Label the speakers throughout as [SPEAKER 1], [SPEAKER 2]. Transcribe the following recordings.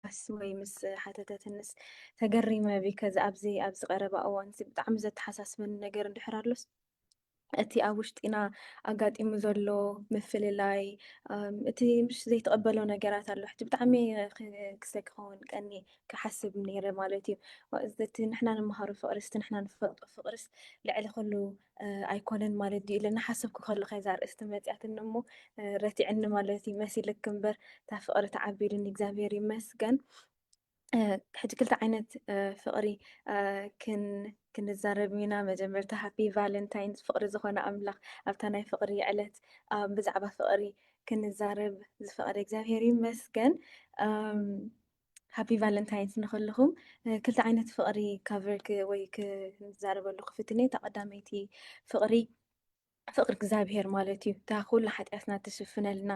[SPEAKER 1] ምባልካስ ወይ ምስ ሓተተትንስ ተገሪመ ቢከ ኣብዚ ኣብዚ ቀረባ እዋን እዚ ብጣዕሚ ዘተሓሳስበኒ ነገር እንድሕር ኣሎስ እቲ ኣብ ውሽጢና ኣጋጢሙ ዘሎ ምፍልላይ እቲ ምሽ ዘይተቐበሎ ነገራት ኣሎ ሕጂ ብጣዕሚ ክስተ ክኸውን ቀኒ ክሓስብ ነይረ ማለት እዩ እቲ ንሕና ንምሃሩ ፍቕርስ እቲ ንሕና ንፈልጦ ፍቕርስ ልዕሊ ኩሉ ኣይኮነን ማለት ድዩ ኢለ እናሓሰብኩ ከለኹ እያ እዛ ኣርእስቲ መፂኣትኒ እሞ ረቲዕኒ ማለት እዩ መሲልክ እምበር እታ ፍቕሪ ተዓቢሉኒ እግዚኣብሄር ይመስገን ሕጂ ክልተ ዓይነት ፍቕሪ ክንዛረብ ኢና መጀመርታ ሃፒ ቫለንታይን ፍቕሪ ዝኾነ ኣምላኽ ኣብታ ናይ ፍቕሪ ዕለት ብዛዕባ ፍቕሪ ክንዛረብ ዝፈቐደ እግዚኣብሄር ይመስገን ሃፒ ቫለንታይንስ ንክልኹም ክልተ ዓይነት ፍቕሪ ካቨር ወይ ክንዛረበሉ ክፍትን እየ እታ ቀዳመይቲ ፍቕሪ ፍቕሪ እግዚኣብሄር ማለት እዩ እታ ኩሉ ሓጢኣትና ትሽፍነልና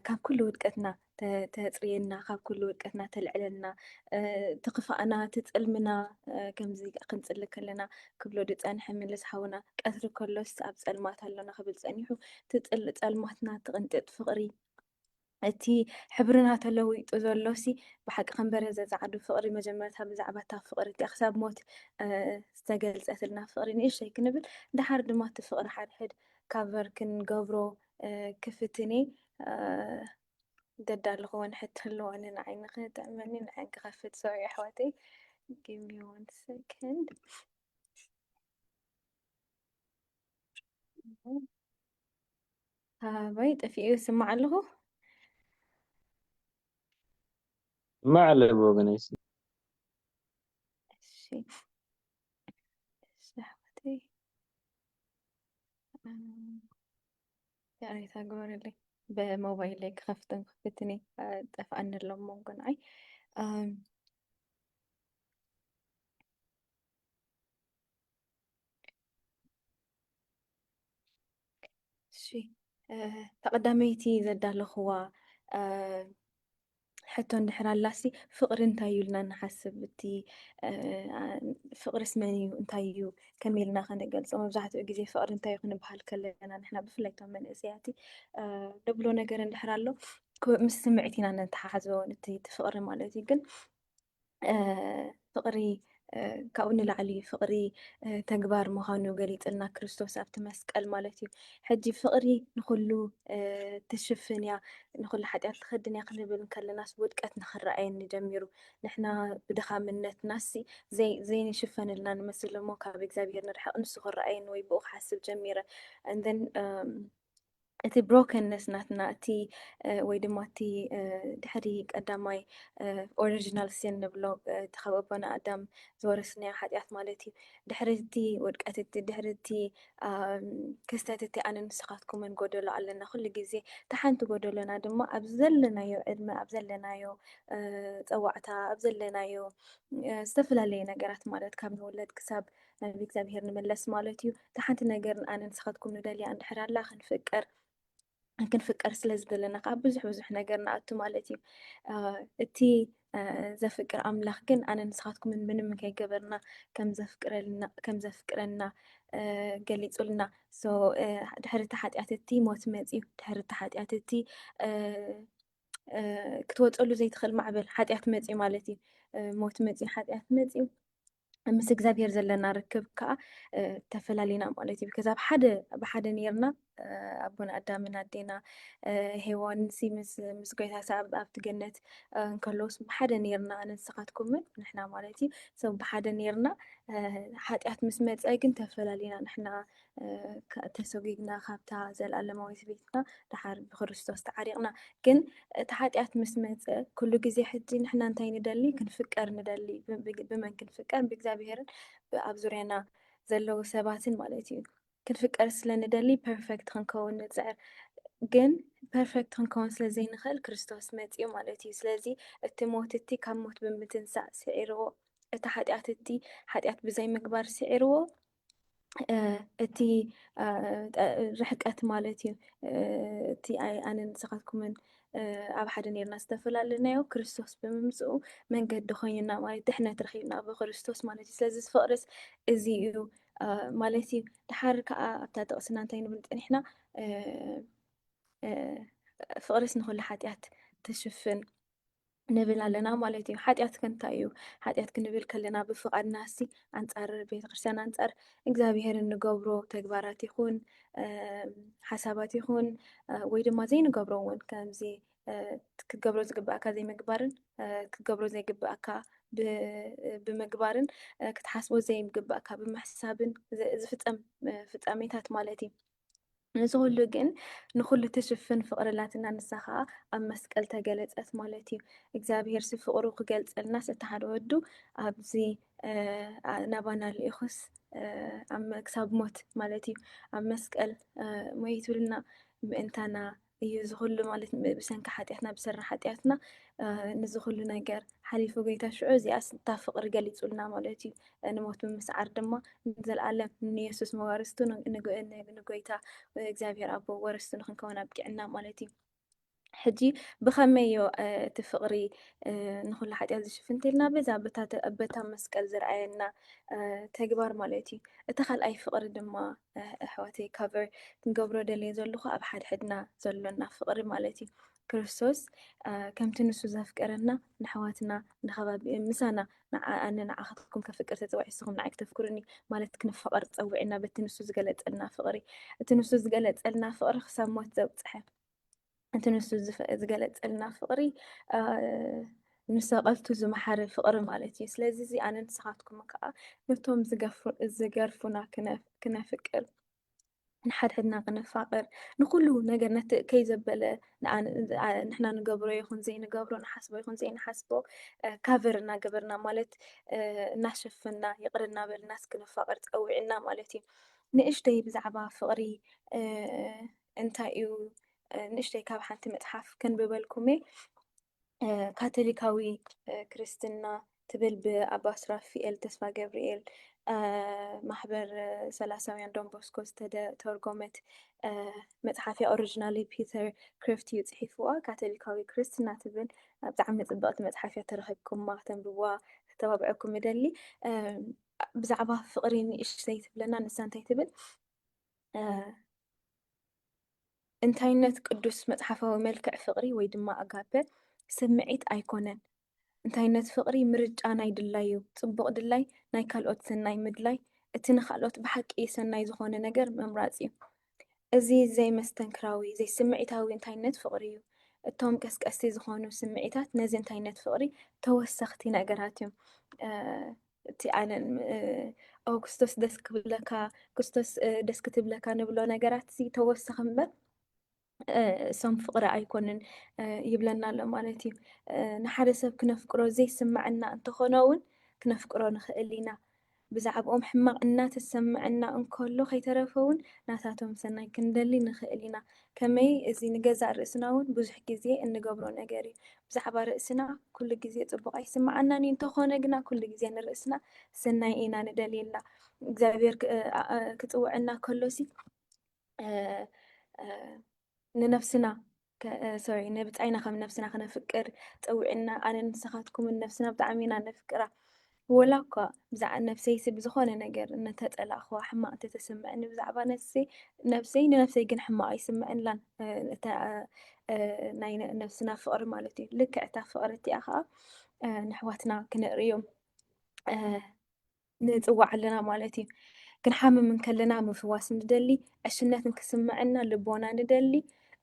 [SPEAKER 1] ካብ ኩሉ ውድቀትና ተፅርየና ካብ ኩሉ ውድቀትና ተልዕለልና ትክፋእና ትፅልምና ከምዚ ክንፅሊ ከለና ክብሎ ድፀንሐ ምልስ ሓውና ቀትሪ ከሎስ ኣብ ፀልማት ኣሎና ክብል ፀኒሑ ትፅል ፀልማትና ትቕንጥጥ ፍቕሪ እቲ ሕብርና ተለዊጡ ዘሎሲ ብሓቂ ከንበረ ዘጻዕዱ ፍቕሪ መጀመርታ ብዛዕባ እታ ፍቕሪ እቲኣ ክሳብ ሞት ዝተገልጸትልና ፍቕሪ ንእሽተይ ክንብል ድሓር ድማ እቲ ፍቕሪ ሓድሕድ ካቨር ክንገብሮ ክፍትኔ ገዳ ኣለኹወን ሕት ኣለዋኒ ንዓይ ንክጥዕመኒ ንዓይ ክኸፍት ሰው ኣሕዋተይ ጊሚ ዋን ሰከንድ ኣበይ ጠፊኡ ይስማዕ ኣለኹ።
[SPEAKER 2] ይስማዕ ኣሎ ብወገነይ ይስማዕ።
[SPEAKER 1] እሺ እሺ ኣሕዋተይ ይቕሬታ ግበሩለይ ብሞባይለይ ክኸፍትን ክፍትን ጠፍኣኒ ኣሎ መንጎ ንዓይ እሺ ተቐዳመይቲ ዘዳለኹዋ ሕቶ እንድሕር ኣላሲ ፍቕሪ እንታይ እዩ ኢልና ንሓስብ እቲ ፍቕሪስ መን እዩ እንታይ እዩ ከመይ ኢልና ከነገልፆ መብዛሕትኡ ግዜ ፍቕሪ እንታይ እዩ ክንበሃል ከለና ንሕና ብፍላይ እቶም መንእሰያቲ ንብሎ ነገር እንድሕር ኣሎ ምስ ስምዒት ኢና ነተሓሓዞ እቲ ፍቕሪ ማለት እዩ ግን ፍቕሪ ካብኡ ንላዕሊ እዩ ፍቕሪ ተግባር ምዃኑ ገሊፅልና ክርስቶስ ኣብቲ መስቀል ማለት እዩ ሕጂ ፍቕሪ ንኹሉ ትሽፍን እያ ንኹሉ ሓጢኣት ትኸድን እያ ክንብል ከለናስ ውድቀት ንክረኣየኒ ጀሚሩ ንሕና ብድኻምነትናስ ዘይንሽፈነልና ንመስል እሞ ካብ እግዚኣብሄር ንርሕቕ ንሱ ክረኣየኒ ወይ ብኡ ክሓስብ ጀሚረ እንደን እቲ ብሮከንነስ ናትና እቲ ወይ ድማ እቲ ድሕሪ ቀዳማይ ኦሪጂናል ሲን ንብሎ እቲ ካብ ኣቦና ኣዳም ዝወረስናዮ ሓጢኣት ማለት እዩ ድሕሪ እቲ ውድቀት እቲ ድሕሪ እቲ ክስተት እቲ ኣነ ንስኻትኩምን ጎደሎ ኣለና ኩሉ ግዜ እቲ ሓንቲ ጎደሎና ድማ ኣብ ዘለናዮ ዕድመ ኣብ ዘለናዮ ፀዋዕታ ኣብ ዘለናዮ ዝተፈላለየ ነገራት ማለት ካብ ንውለድ ክሳብ ናብ እግዚኣብሄር ንመለስ ማለት እዩ እታ ሓንቲ ነገርን ኣነ ንስኻትኩም ንደልያ እንድሕር ኣላ ክንፍቅር ክንፍቀር ስለ ዝደለና ከዓ ብዙሕ ብዙሕ ነገር ንኣቱ ማለት እዩ እቲ ዘፍቅር ኣምላኽ ግን ኣነ ንስኻትኩም ምንም ከይገበርና ከም ዘፍቅረና ገሊፁልና ድሕሪ እቲ ሓጢኣት እቲ ሞት መፅዩ ድሕሪ እቲ ሓጢኣት እቲ ክትወፀሉ ዘይትኽእል ማዕበል ሓጢኣት መፅዩ ማለት እዩ ሞት መፅዩ ሓጢኣት መፅዩ ምስ እግዚኣብሄር ዘለና ርክብ ከዓ ተፈላሊና ማለት እዩ ከዛ ብሓደ ብሓደ ነርና ኣቦና ኣዳምን ኣዴና ሄዋን ሲ ምስ ጎይታ ሰኣብ ኣብቲ ገነት እንከለውስ ብሓደ ነርና ኣነንስኻትኩምን ንሕና ማለት እዩ ሰ ብሓደ ነርና ሓጢኣት ምስ መፀ ግን ተፈላሊና ንሕና ተሰጉግና ካብታ ዘልኣለማዊት ቤትና ድሓር ብክርስቶስ ተዓሪቕና ግን እቲ ሓጢኣት ምስ መጸ ኩሉ ግዜ ሕጂ ንሕና እንታይ ንደሊ ክንፍቀር ንደሊ ብመን ክንፍቀር ብእግዚኣብሄርን ኣብ ዙርያና ዘለዉ ሰባትን ማለት እዩ ክንፍቀር ስለ ንደሊ ፐርፌክት ክንከውን ንጽዕር ግን ፐርፌክት ክንከውን ስለ ዘይንኽእል ክርስቶስ መጽኡ ማለት እዩ ስለዚ እቲ ሞት እቲ ካብ ሞት ብምትንሳእ ስዒርዎ እቲ ሓጢኣት እቲ ሓጢኣት ብዘይ ምግባር ስዒርዎ እቲ ርሕቀት ማለት እዩ እቲ ኣነ ንስኻትኩምን ኣብ ሓደ ነርና ዝተፈላለናዮ ክርስቶስ ብምምፅኡ መንገዲ ኮይኑና ማለት ድሕነት ረኪብና ብክርስቶስ ማለት እዩ ስለዚ ዝፍቅርስ እዚ እዩ ማለት እዩ ድሓር ከዓ ኣብታ ጥቅስና እንታይ ንብል ፀኒሕና ፍቅርስ ንኩሉ ሓጢኣት ትሽፍን ንብል ኣለና ማለት እዩ። ሓጢኣት ከ እንታይ እዩ? ሓጢኣት ክንብል ከለና ብፍቓድናሲ ኣንጻር ቤተ ክርስቲያን ኣንጻር እግዚኣብሄር እንገብሮ ተግባራት ይኹን ሓሳባት ይኹን ወይ ድማ ዘይንገብሮ እውን ከምዚ ክገብሮ ዝግብኣካ ዘይምግባርን ክገብሮ ዘይግብኣካ ብምግባርን ክትሓስቦ ዘይግብኣካ ብምሕሳብን ዝፍፀም ፍፃሜታት ማለት እዩ። እዚ ኩሉ ግን ንኩሉ ትሽፍን ፍቅሪ ኣላትና ንሳ ከዓ ኣብ መስቀል ተገለፀት ማለት እዩ እግዚኣብሄር ሲ ፍቅሩ ክገልፀልናስ እቲ ሓደ ወዱ ኣብዚ ናባና ልኢኹስ ክሳብ ሞት ማለት እዩ ኣብ መስቀል ሞይቱልና ምእንታና እዩ እዚ ኩሉ ማለት ብሰንኪ ሓጢኣትና ብሰሪ ሓጢኣትና ንዚ ኩሉ ነገር ሓሊፉ ጎይታ ሽዑ እዚኣስ እታ ፍቕሪ ገሊጹልና ማለት እዩ ንሞት ብምስዓር ድማ ንዘለኣለም ንየሱስ መዋርስቱ ንጎይታ እግዚኣብሔር ኣቦ ወረስቱ ንክንከውን ኣብቂዕና ማለት እዩ ሕጂ ብኸመይ ዮ እቲ ፍቕሪ ንኩሉ ሓጢኣት ዝሽፍን እንተልና በዛ በታ መስቀል ዝረኣየና ተግባር ማለት እዩ እቲ ካልኣይ ፍቕሪ ድማ ኣሕዋተይ ካቨር ክንገብሮ ደልየ ዘለኹ ኣብ ሓድሕድና ዘሎና ፍቕሪ ማለት እዩ ክርስቶስ ከምቲ ንሱ ዘፍቀረና ንኣሕዋትና ንከባቢ ምሳና ኣነ ንዓኻትኩም ከፍቅር ተፀዋዒ ንስኹም ንዓይ ክተፍክሩኒ ማለት ክንፈቐር ፀዊዕና በቲ ንሱ ዝገለፀልና ፍቕሪ እቲ ንሱ ዝገለፀልና ፍቕሪ ክሳብ ሞት ዘብፅሐ እቲ ንሱ ዝገለፀልና ፍቕሪ ንሰቐልቱ ዝመሓረ ፍቕሪ ማለት እዩ ስለዚ እዚ ኣነ ንስኻትኩም ከዓ ነቶም ዝገርፉና ክነፍቅር ንሓድሕድና ክነፋቅር ንኩሉ ነገር ነቲ ከይ ዘበለ ንሕና ንገብሮ ይኹን ዘይንገብሮ ንሓስቦ ይኹን ዘይንሓስቦ ካቨር እናገበርና ማለት እናሸፈና ይቕር እናበልና እስክንፋቅር ፀዊዕና ማለት እዩ ንእሽተይ ብዛዕባ ፍቕሪ እንታይ እዩ ንእሽተይ ካብ ሓንቲ መፅሓፍ ከንብበልኩሜ ካቶሊካዊ ክርስትና ትብል ብኣባ ሱራፊኤል ተስፋ ገብርኤል ማሕበር ሰላሳውያን ዶንቦስኮ ዝተተርጎመት መፅሓፍ እያ ኦሪጂናሊ ፒተር ክሪፍት እዩ ፅሒፍዋ ካቶሊካዊ ክርስትና ትብል ብጣዕሚ ፅብቕቲ መፅሓፍ እያ ተረኪብኩማ ከተንብዋ ክተባብዐኩም እደሊ ብዛዕባ ፍቕሪ ንእሽተይ ትብለና ንሳ እንታይ ትብል እንታይነት ቅዱስ መጽሓፋዊ መልክዕ ፍቕሪ ወይ ድማ ኣጋፔ ስምዒት ኣይኮነን። እንታይነት ፍቕሪ ምርጫ ናይ ድላይ እዩ። ጽቡቕ ድላይ ናይ ካልኦት ሰናይ ምድላይ እቲ ንኻልኦት ብሓቂ ሰናይ ዝኾነ ነገር ምምራጽ እዩ። እዚ ዘይመስተንክራዊ ዘይስምዒታዊ እንታይነት ፍቕሪ እዩ። እቶም ቀስቀስቲ ዝኾኑ ስምዒታት ነዚ እንታይነት ፍቕሪ ተወሰኽቲ ነገራት እዮም። እቲ ኣነ ኦ ክርስቶስ ደስ ክብለካ ክርስቶስ ደስ ክትብለካ ንብሎ ነገራት እዚ ተወሰኺ እምበር እሶም ፍቕሪ ኣይኮንን ይብለና ኣሎ ማለት እዩ ንሓደ ሰብ ክነፍቅሮ ዘይስምዐና እንተኾነ እውን ክነፍቅሮ ንኽእል ኢና ብዛዕባኦም ሕማቕ እናተሰምዐና እንከሎ ከይተረፈ እውን ናታቶም ሰናይ ክንደሊ ንኽእል ኢና ከመይ እዚ ንገዛእ ርእስና እውን ብዙሕ ግዜ እንገብሮ ነገር እዩ። ብዛዕባ ርእስና ኩሉ ግዜ ጽቡቕ ኣይስምዓናን እዩ፣ እንተኾነ ግና ኩሉ ግዜ ንርእስና ሰናይ ኢና ንደልየላ። እግዚኣብሔር ክጽውዕና ከሎሲ ንነፍስና ሶሪ ንብጻይና ከም ነፍስና ክነፍቅር ጸዊዕና ኣነ ንስኻትኩምን ነፍስና ብጣዕሚ ኢና ነፍቅራ ወላኳ ብዛዕባ ነብሰይሲ ብዝኾነ ነገር እንተጸላእክዋ ሕማቕ እንተተሰምዐኒ ብዛዕባ ነፍሰይ ነብሰይ ንነብሰይ ግን ሕማቕ ኣይስምዐንላን ናይ ነብስና ፍቕሪ ማለት እዩ ልክዕ እታ ፍቕሪ እቲኣ ከዓ ንሕዋትና ክንርእዮም ንፅዋዕ ኣለና ማለት እዩ ክንሓምም እንከለና ምፍዋስ ንደሊ ዕሽነት ንክስምዐና ልቦና ንደሊ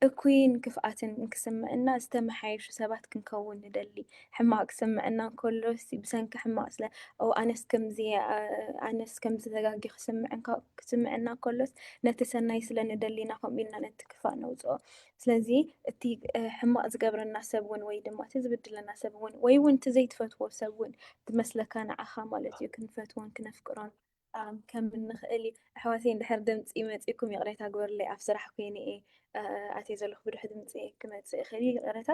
[SPEAKER 1] እኩይን ክፍኣትን እንክስምዕና ዝተመሓየሹ ሰባት ክንከውን ንደሊ። ሕማቕ ክስምዕና እንከሎሲ ብሰንኪ ሕማቕ ስለ ኦው ኣነስ ከምዚየ ኣነስ ከምዚ ተጋጊ ክስምዕ ክስምዕና እንከሎስ ነቲ ሰናይ ስለ ንደሊ ኢና ከምኡ ኢልና ነቲ ክፋእ ነውጽኦ። ስለዚ እቲ ሕማቕ ዝገብረና ሰብ እውን ወይ ድማ እቲ ዝብድለና ሰብ እውን ወይ እውን እቲ ዘይትፈትዎ ሰብ እውን ዝመስለካ ንዓኻ ማለት እዩ ክንፈትዎን ክነፍቅሮን ምጥቃም ከም እንክእል እዩ። ኣሕዋተይ እንድሕር ድምፂ መፂኩም ይቅሬታ ግበሩለይ ኣብ ስራሕ ኮይነ እየ ኣትየ ዘለኩ ብድሑ ድምፂ ክመፅእ ይክእል እዩ ይቅረታ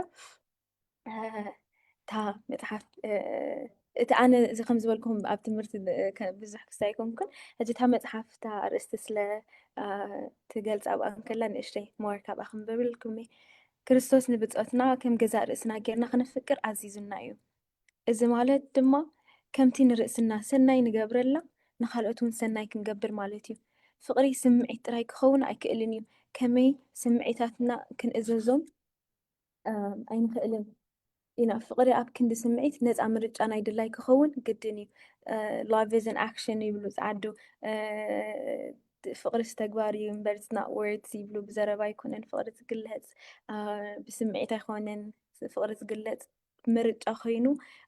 [SPEAKER 1] እታ መፅሓፍ እቲ ኣነ እዚ ከም ዝበልኩም ኣብ ትምህርቲ ብዙሕ ክሳ ኣይኮንኩን ሕጂ እታ መፅሓፍ እታ ኣርእስቲ ስለ ትገልፅ ኣብኣ እንከላ ንእሽተይ ሞር ካብኣ ክንበብልኩም እየ ክርስቶስ ንብፆትና ከም ገዛእ ርእስና ጌርና ክንፍቅር ኣዚዙና እዩ እዚ ማለት ድማ ከምቲ ንርእስና ሰናይ ንገብረላ ንኻልኦት ውን ሰናይ ክንገብር ማለት ዩ። ፍቕሪ ስምዒት ጥራይ ክኸውን ኣይክእልን ዩ፣ ከመይ ስምዒታትና ክንእዘዞም ኣይንኽእልን ኢና። ፍቕሪ ኣብ ክንዲ ስምዒት ነጻ ምርጫ ናይ ድላይ ክኸውን ግድን ዩ። Love is an action ይብሉ ጸዓዱ፣ ፍቕሪስ ተግባር ዩ እምበር it's not words ይብሉ፣ ብዘረባ ኣይኮነን ፍቕሪ ዝግለጽ፣ ብስምዒት ኣይኮነን ፍቕሪ ዝግለጽ፣ ምርጫ ኮይኑ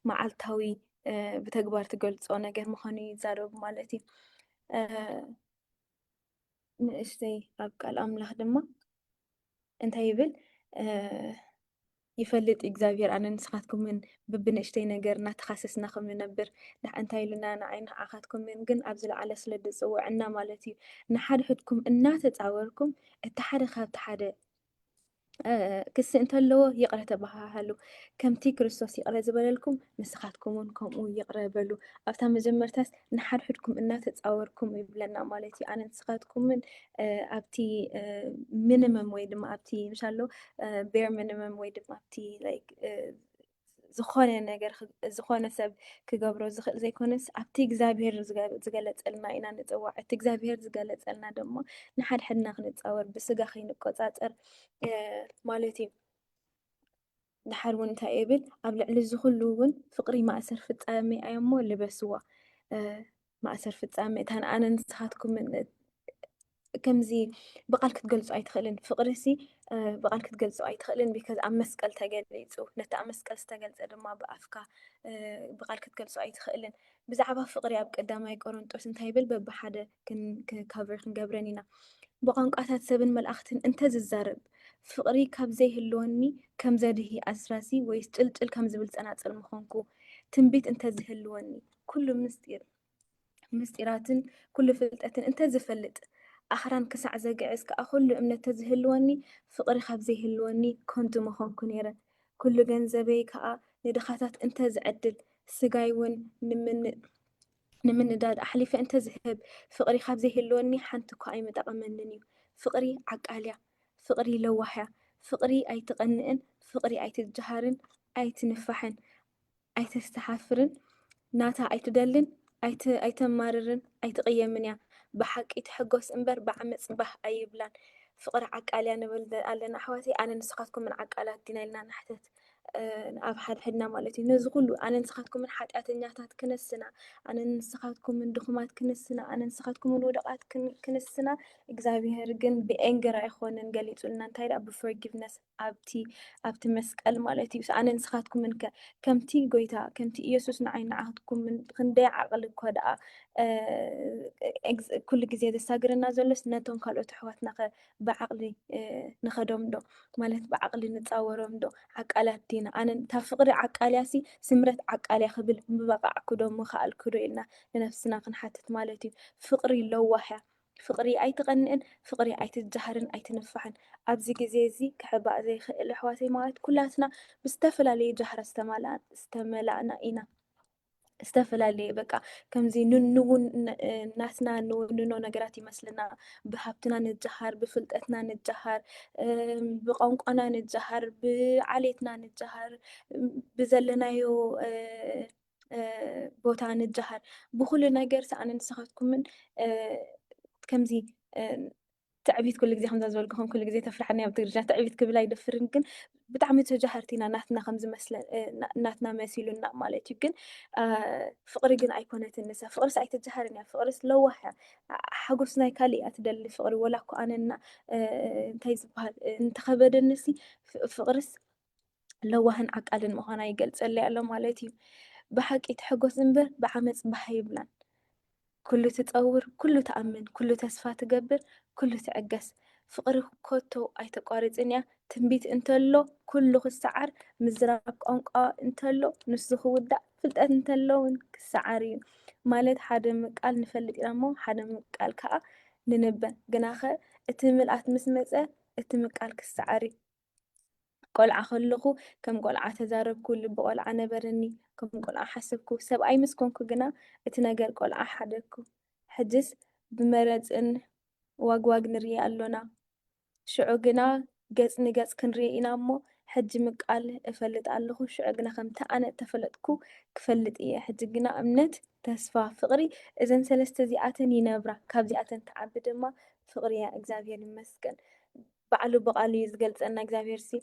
[SPEAKER 1] መዓልታዊ ብተግባር ትገልፆ ነገር ምዃኑ ይዛረቡ ማለት እዩ ንእሽተይ ኣብ ቃል ኣምላኽ ድማ እንታይ ይብል ይፈልጥ እግዚኣብሔር ኣነ ንስኻትኩምን ብብንእሽተይ ነገር እናተኻሰስና ከም ንነብር እንታይ ኢሉና ንዓይ ንዓኻትኩምን ግን ኣብ ዝለዓለ ስለ ድፅውዕና ማለት እዩ ንሓድሕድኩም እናተፃወርኩም እቲ ሓደ ካብቲ ሓደ ክሲ እንተለዎ ይቕረ ተባሃሃሉ፣ ከምቲ ክርስቶስ ይቕረ ዝበለልኩም ንስኻትኩም እውን ከምኡ ይቕረ በሉ። ኣብታ መጀመርታስ ንሓድሕድኩም እናተጻወርኩም ይብለና ማለት እዩ። ኣነ ንስኻትኩምን ኣብቲ ሚኒመም ወይ ድማ ኣብቲ ምሻሎ ቤር ሚኒመም ወይ ድማ ኣብቲ ዝኾነ ነገር ዝኾነ ሰብ ክገብሮ ዝኽእል ዘይኮነስ ኣብቲ እግዚኣብሄር ዝገለፀልና ኢና ንፅዋዕ እቲ እግዚኣብሄር ዝገለፀልና ድማ ንሓድሕድና ክንፃወር ብስጋ ከይንቆፃፀር ማለት እዩ ድሓር እውን እንታይ ይብል ኣብ ልዕሊ እዚ ኩሉ እውን ፍቅሪ ማእሰር ፍፃመ ኣዮ እሞ ልበስዋ ማእሰር ፍፃመ እታን ኣነ ንስኻትኩም ከምዚ ብቓል ክትገልፆ ኣይትኽእልን ፍቕሪ ሲ ብቓል ክትገልፆ ኣይትኽእልን ቢካዝ ኣብ መስቀል ተገሊፁ ነቲ ኣብ መስቀል ዝተገልፀ ድማ ብኣፍካ ብቓል ክትገልፆ ኣይትኽእልን ብዛዕባ ፍቕሪ ኣብ ቀዳማይ ቆሮንጦስ እንታይ ይብል በብሓደ ካብሪ ክንገብረን ኢና ብቋንቋታት ሰብን መልእኽትን እንተዝዛረብ ፍቕሪ ካብ ዘይህልወኒ ከም ዘድሂ ኣስራሲ ወይስ ጭልጭል ከም ዝብል ፀናፅል ምኾንኩ ትንቢት እንተዝህልወኒ ኩሉ ምስጢር ምስጢራትን ኩሉ ፍልጠትን እንተ ዝፈልጥ ኣኽራን ክሳዕ ዘግዕዝ ከኣ ኩሉ እምነት ተዝህልወኒ ፍቕሪ ካብ ዘይህልወኒ ከንቱ ምኾንኩ ነይረ ኩሉ ገንዘበይ ከኣ ንድኻታት እንተ ዝዕድል ስጋይ እውን ንምንዳድ ኣሕሊፈ እንተ ዝህብ ፍቕሪ ካብ ዘይህልወኒ ሓንቲ እኳ ኣይምጠቐመንን እዩ ፍቕሪ ዓቃልያ ፍቕሪ ለዋህያ ፍቕሪ ኣይትቐንእን ፍቕሪ ኣይትጀሃርን ኣይትንፋሕን ኣይተስተሓፍርን ናታ ኣይትደልን ኣይተማርርን ኣይትቅየምን እያ ብሓቂ ትሕጎስ እንበር ብዓመጽ ባህ ኣይብላን ፍቅሪ ዓቃል እያ ንብል ኣለና ኣሕዋተይ ኣነ ንስኻትኩምን ዓቃላት ዲና ኢልና ንሕተት ኣብ ሓድሕድና ማለት እዩ ነዚ ኩሉ ኣነ ንስኻትኩምን ሓጢኣተኛታት ክንስና ኣነ ንስኻትኩምን ድኹማት ክንስና ኣነ ንስኻትኩምን ውደቓት ክንስና እግዚኣብሄር ግን ብኤንግር ኣይኮነን ገሊጹልና እንታይ ደኣ ብፎርጊቭነስ ኣብቲ ኣብቲ መስቀል ማለት እዩ ኣነ ንስኻትኩምን ከ ከምቲ ጎይታ ከምቲ ኢየሱስ ንዓይ ንዓትኩምን ክንደይ ዓቕሊ እኮ ደኣ ኩሉ ግዜ ዘሳግረና ዘሎስ ነቶም ካልኦት ኣሕዋትና ከ ብዓቕሊ ንኸዶም ዶ ማለት ብዓቕሊ ንፃወሮም ዶ ዓቃላት ዲና ኣነ እታ ፍቕሪ ዓቃልያ ሲ ስምረት ዓቃልያ ክብል ምበቃዕኩ ዶ ምኸኣልኩ ዶ ኢልና ንነፍስና ክንሓትት ማለት እዩ ፍቕሪ ለዋህያ ፍቕሪ ኣይትቐንእን ፍቕሪ ኣይትጃሃርን ኣይትንፋሕን ኣብዚ ግዜ እዚ ክሕባእ ዘይክእል ኣሕዋተይ ማለት ኩላትና ብዝተፈላለየ ጃህራ ዝተማላእና ዝተመላእና ኢና ዝተፈላለየ በቃ ከምዚ ንንውን ናትና ንውንኖ ነገራት ይመስልና ብሃብትና ንጃሃር ብፍልጠትና ንጃሃር ብቋንቋና ንጃሃር ብዓሌትና ንጃሃር ብዘለናዮ ቦታ ንጀሃር ብኩሉ ነገር ሰኣነ ንስኻትኩምን ከምዚ ትዕቢት ኩሉ ግዜ ከምዛ ዝበልኩኹም ኩሉ ግዜ ተፍርሓኒ ኣብ ትግርኛ ትዕቢት ክብል ኣይደፍርን ግን ብጣዕሚ ተጃሃርቲ ኢና ናትና ከምዝመስለ ናትና መሲሉና ማለት እዩ ግን ፍቅሪ ግን ኣይኮነትን ንሳ ፍቅርስ ኣይተጀሃርን እያ ፍቅርስ ለዋህ እያ ሓጎስ ናይ ካልእ እያ ትደሊ ፍቅሪ ወላ እኮ ኣነና እንታይ ዝበሃል እንተኸበደንሲ ፍቅርስ ለዋህን ዓቃልን ምዃና ይገልጸለይ ኣሎ ማለት እዩ። ብሓቂ ትሕጎስ እምበር ብዓመጽ ባህ ኣይብላን። ኩሉ ትጸውር፣ ኩሉ ትኣምን፣ ኩሉ ተስፋ ትገብር፣ ኩሉ ትዕገስ። ፍቕሪ ኮቶ ኣይተቋርጽን እያ። ትንቢት እንተሎ ኩሉ ክሰዓር፣ ምዝራብ ቋንቋ እንተሎ ንሱ ክውዳእ፣ ፍልጠት እንተሎ እውን ክሰዓር እዩ። ማለት ሓደ ምቃል ንፈልጥ ኢና እሞ ሓደ ምቃል ከዓ ንንበ። ግናኸ እቲ ምልኣት ምስ መጸ እቲ ምቃል ክሰዓር እዩ። ቆልዓ ከለኹ ከም ቆልዓ ተዛረብኩ፣ ልቢ ቆልዓ ነበረኒ፣ ከም ቆልዓ ሓሰብኩ፣ ሰብኣይ ምስ ኮንኩ ግና እቲ ነገር ቆልዓ ሓደግኩ። ሕጅስ ብመረጽን ዋግዋግ ንርኤ ኣሎና። ሽዑ ግና ገጽ ንገጽ ክንርኤ ኢና እሞ ሕጂ ምቃል እፈልጥ ኣለኹ፣ ሽዑ ግና ከምቲ ኣነ እተፈለጥኩ ክፈልጥ እየ። ሕጂ ግና እምነት፣ ተስፋ፣ ፍቕሪ እዘን ሰለስተ እዚኣተን ይነብራ፣ ካብዚኣተን ትዓቢ ድማ ፍቕሪ እያ። እግዚኣብሄር ይመስገን። ባዕሉ ብቃሉ እዩ ዝገልፀና እግዚኣብሔር ሲ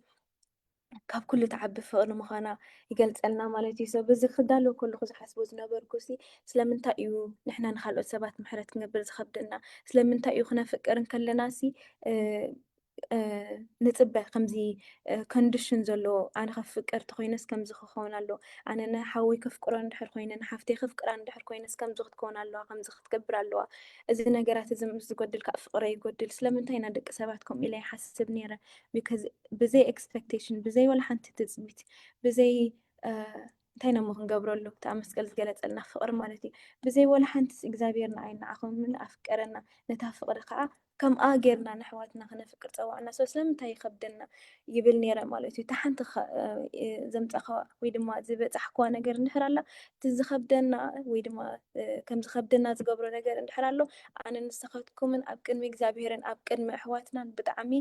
[SPEAKER 1] ካብ ኩሉ ትዓቢ ፍቕሪ ምዃና ይገልጸልና ማለት እዩ። ሰብ እዚ ክዳለዎ ከለኹ ዝሓስቦ ዝነበርኩ ሲ ስለምንታይ እዩ ንሕና ንካልኦት ሰባት ምሕረት ክንገብር ዝኸብደና? ስለምንታይ እዩ ክነፍቅር እንከለና ሲ ንፅበ ከምዚ ኮንዲሽን ዘለዎ ኣነ ከፍቅር ተኮይነስ ከምዚ ክኸውን ኣለዎ ኣነ ንሓወይ ከፍቅሮ እንድሕር ኮይነ ንሓፍተይ ከፍቅራ እንድሕር ኮይነስ ከምዚ ክትከውን ኣለዋ ከምዚ ክትገብር ኣለዋ እዚ ነገራት እዚ ምስ ዝጎድል ካእ ፍቅረይ ይጎድል ስለምንታይ ኢና ደቂ ሰባት ከምኡ ኢለ ይሓስብ ኔረ because ብዘይ expectation ብዘይ ወላ ሓንቲ ትጽቢት ብዘይ እንታይ ነሞ ክንገብረሉ እታ መስቀል ዝገለጸልና ፍቅሪ ማለት እዩ ብዘይ ወላ ሓንቲስ እግዚኣብሔር ንዓይ ንዓኹም ኣፍቀረና ነታ ፍቅሪ ከዓ ከምኣ ጌርና ንሕዋትና ክነፍቅር ጸዋዕና ሰው ስለምንታይ ይኸብደና ይብል ኔረ ማለት እዩ እታ ሓንቲ ዘምጻኸዋ ወይ ድማ ዝበጻሕክዋ ነገር እንድሕር ኣላ እቲ ዝኸብደና ወይ ድማ ከም ዝኸብደና ዝገብሮ ነገር እንድሕር ኣሎ ኣነ ንስኻትኩምን ኣብ ቅድሚ እግዚኣብሄርን ኣብ ቅድሚ ኣሕዋትናን ብጣዕሚ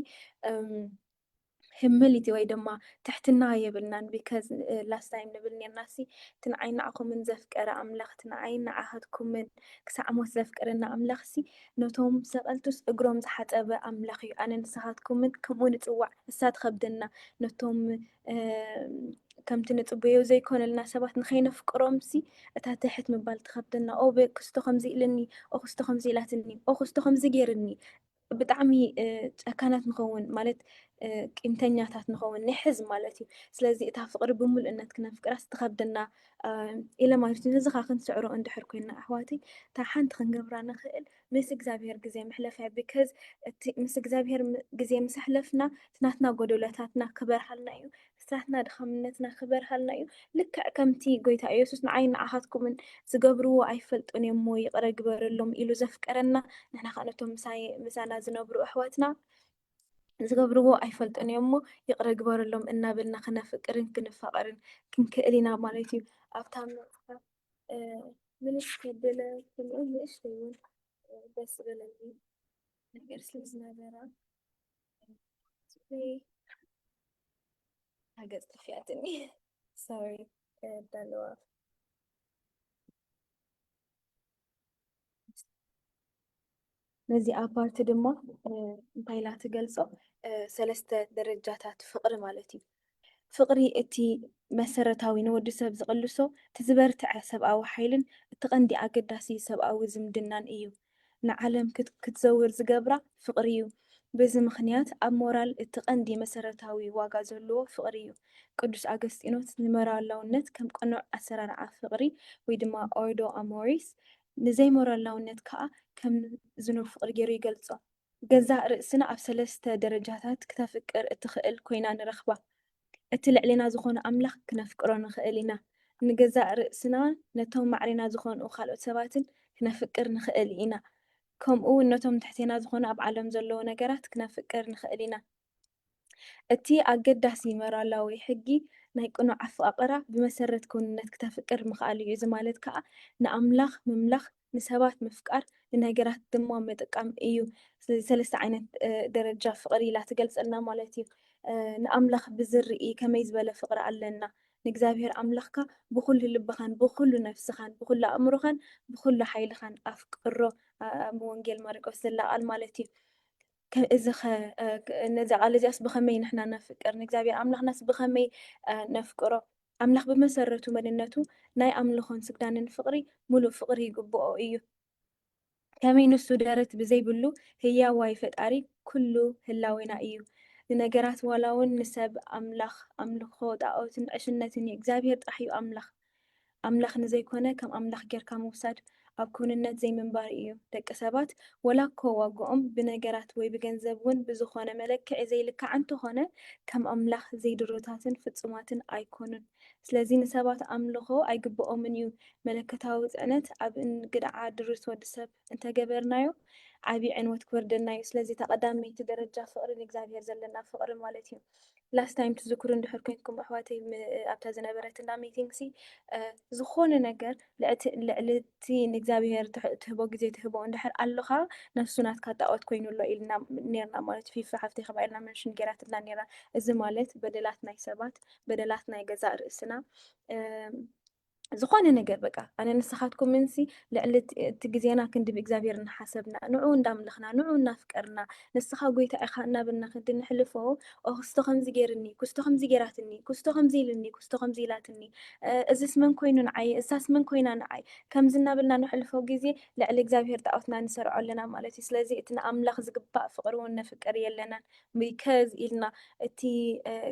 [SPEAKER 1] ህምልቲ ወይ ድማ ትሕትና የብልናን ቢከዝ ላስት ታይም ንብል ነርና ሲ እቲ ንዓይ ንዓኹምን ዘፍቀረ ኣምላኽ እቲ ንዓይ ንዓኻትኩምን ክሳዕ ሞት ዘፍቅረና ኣምላኽ ሲ ነቶም ሰቐልቱስ እግሮም ዝሓፀበ ኣምላኽ እዩ ኣነ ንስኻትኩምን ከምኡ ንፅዋዕ እሳ ትኸብደና ነቶም ከምቲ ንጽበዮ ዘይኮነልና ሰባት ንኸይነፍቅሮምሲ እታ ትሕት ምባል ትኸብደና ኦ ክስቶ ከምዚ ኢልኒ ኦ ክስቶ ከምዚ ኢላትኒ ኦ ክስቶ ከምዚ ገይርኒ ብጣዕሚ ጨካናት ንኸውን ማለት ቂምተኛታት ንኸውን ንሕዝ ማለት እዩ ስለዚ እታ ፍቕሪ ብምሉእነት ክነፍቅራስ ትኸብደና ኢለ ማለት እዩ ነዚ ኸዓ ክንስዕሮ እንድሕር ኮይና ኣሕዋተይ እታ ሓንቲ ክንገብራ ንኽእል ምስ እግዚኣብሄር ግዜ ምሕለፋይ because እቲ ምስ እግዚኣብሄር ግዜ ምስ ኣሕለፍና እቲ ናትና ጎዶሎታትና ክበርሃልና እዩ እቲ ናትና ድኻምነትና ክበርሃልና እዩ ልክዕ ከምቲ ጎይታ ኢየሱስ ንዓይን ንዓኻትኩምን ዝገብርዎ ኣይፈልጡን እዮም እሞ ይቕረ ግበረሎም ኢሉ ዘፍቀረና ንሕና ከኣ ነቶም ምሳይ ምሳና ዝነብሩ ኣሕዋትና ዝገብርዎ ኣይፈልጡን እዮም እሞ ይቕረ ግበረሎም እናበልና ክነፍቅርን ክንፋቐርን ክንክእል ኢና ማለት እዩ ኣብታ መጽሓፍ ምንስ ከብለ ከምኡ ንእሽተይ እውን ደስ በለኒ ነገር ስለ ዝነበረ ገጽ ጠፊኣትኒ ሶሪ ከዳለዋ ነዚ ኣፓርቲ ድማ እንታይ ኢላ ትገልጾ? ሰለስተ ደረጃታት ፍቕሪ ማለት እዩ። ፍቕሪ እቲ መሰረታዊ ንወዲ ሰብ ዝቕልሶ እቲ ዝበርትዐ ሰብኣዊ ሓይልን እቲ ቀንዲ ኣገዳሲ ሰብኣዊ ዝምድናን እዩ። ንዓለም ክትዘውር ዝገብራ ፍቕሪ እዩ። በዚ ምኽንያት ኣብ ሞራል እቲ ቀንዲ መሰረታዊ ዋጋ ዘሎዎ ፍቕሪ እዩ። ቅዱስ ኣገስጢኖስ ንሞራላውነት ከም ቅኑዕ ኣሰራርዓ ፍቕሪ ወይ ድማ ኦርዶ ኣሞሪስ ንዘይሞራላውነት ከኣ ከም ዝኑብ ፍቕሪ ገይሩ ይገልጾ። ገዛእ ርእስና ኣብ ሰለስተ ደረጃታት ክተፍቅር እትኽእል ኮይና ንረኽባ። እቲ ልዕሌና ዝኾነ ኣምላኽ ክነፍቅሮ ንኽእል ኢና። ንገዛእ ርእስናን ነቶም ማዕሬና ዝኾንኡ ካልኦት ሰባትን ክነፍቅር ንኽእል ኢና። ከምኡ ውን ነቶም ትሕቴና ዝኾኑ ኣብ ዓለም ዘለዉ ነገራት ክነፍቅር ንኽእል ኢና። እቲ ኣገዳሲ ሞራላዊ ሕጊ ናይ ቅኑዕ ኣፍቓቕራ ብመሰረት ክውንነት ክተፍቅር ምኽኣል እዩ፣ እዚ ማለት ከኣ ንኣምላኽ ምምላኽ፣ ንሰባት ምፍቃር፣ ንነገራት ድማ ምጥቃም እዩ። ስለዚ ሰለስተ ዓይነት ደረጃ ፍቕሪ ኢላ ትገልጸልና ማለት እዩ። ንኣምላኽ ብዝርኢ ከመይ ዝበለ ፍቕሪ ኣለና? ንእግዚኣብሄር ኣምላኽካ ብዅሉ ልብኻን ብዅሉ ነፍስኻን ብዅሉ ኣእምሮኻን ብዅሉ ሓይልኻን ኣፍቅሮ። ኣብ ወንጌል ማርቆስ ዘላ ቓል ማለት እዩ። እዚኸ ነዛ ቓል እዚኣስ ብኸመይ ንሕና ነፍቅር? ንእግዚኣብሄር ኣምላኽናስ ብኸመይ ነፍቅሮ? ኣምላኽ ብመሰረቱ መንነቱ ናይ ኣምልኾን ስግዳንን ፍቕሪ ምሉእ ፍቕሪ ይግብኦ እዩ። ከመይ ንሱ ደረት ብዘይብሉ ህያዋይ ፈጣሪ ኩሉ ህላዌና እዩ ንነገራት ዋላ ውን ንሰብ ኣምላኽ ኣምልኾ ጣኦትን ዕሽነትን እዩ እግዚኣብሄር ጥራሕ እዩ ኣምላኽ ኣምላኽ ንዘይኮነ ከም ኣምላኽ ጌርካ ምውሳድ ኣብ ክውንነት ዘይምንባር እዩ ደቂ ሰባት ወላ እኮ ዋግኦም ብነገራት ወይ ብገንዘብ ውን ብዝኾነ መለክዒ ዘይልካዕ እንተኾነ ከም ኣምላኽ ዘይድሩታትን ፍጹማትን ኣይኮኑን ስለዚ ንሰባት ኣምልኾ ኣይግብኦምን እዩ። መለኮታዊ ጽዕነት ኣብ እንግድዓ ድሩት ወዲ ሰብ እንተ ገበርናዮ ዓቢ ዕንወት ክወርደና እዩ። ስለዚ እታ ቀዳመይቲ ደረጃ ፍቕሪ ንእግዚኣብሄር ዘለና ፍቕሪ ማለት እዩ። Last time ትዝክሩ እንድሕር ኮንኩም ኣሕዋተይ ም ኣብታ ዝነበረት እንዳ meeting ሲ እ ዝኾነ ነገር ልዕቲ ልዕሊ እቲ ንእግዚኣብሄር ትሕ- ትህቦ ግዜ ትህቦ እንድሕር ኣሎኻ ነፍሱ ናትካ ጣኦት ኮይኑ ኣሎ ኢልና ኔርና ማለት እዩ። ፊፊ ሓፍተይ ከምኣ ኢልና መንሽን ጌራትልና ኔራ። እዚ ማለት በደላት ናይ ሰባት በደላት ናይ ገዛእ ርእስና ዝኾነ ነገር በቃ ኣነ ንስኻትኩም ምንሲ ልዕሊ እቲ ግዜና ክንዲ ብእግዚኣብሔር እናሓሰብና ንዑ እንዳምለኽና ንዑ እናፍቀርና ንስኻ ጎይታ ኢኻ እናበልና ክንዲ ንሕልፎ ክስቶ ከምዚ ገይርኒ ክስቶ ከምዚ ገይራትኒ ክስቶ ከምዚ ኢልኒ ክስቶ ከምዚ ኢላትኒ እዚስ መን ኮይኑ ንዓይ እሳስ መን ኮይና ንዓይ ከምዚ እናበልና ንሕልፎ ግዜ ልዕሊ እግዚኣብሔር ጣዖትና ንሰርዖ ኣለና ማለት እዩ ስለዚ እቲ ንኣምላኽ ዝግባእ ፍቕሪ እውን ነፍቅር የለናን ብከዝ ኢልና እቲ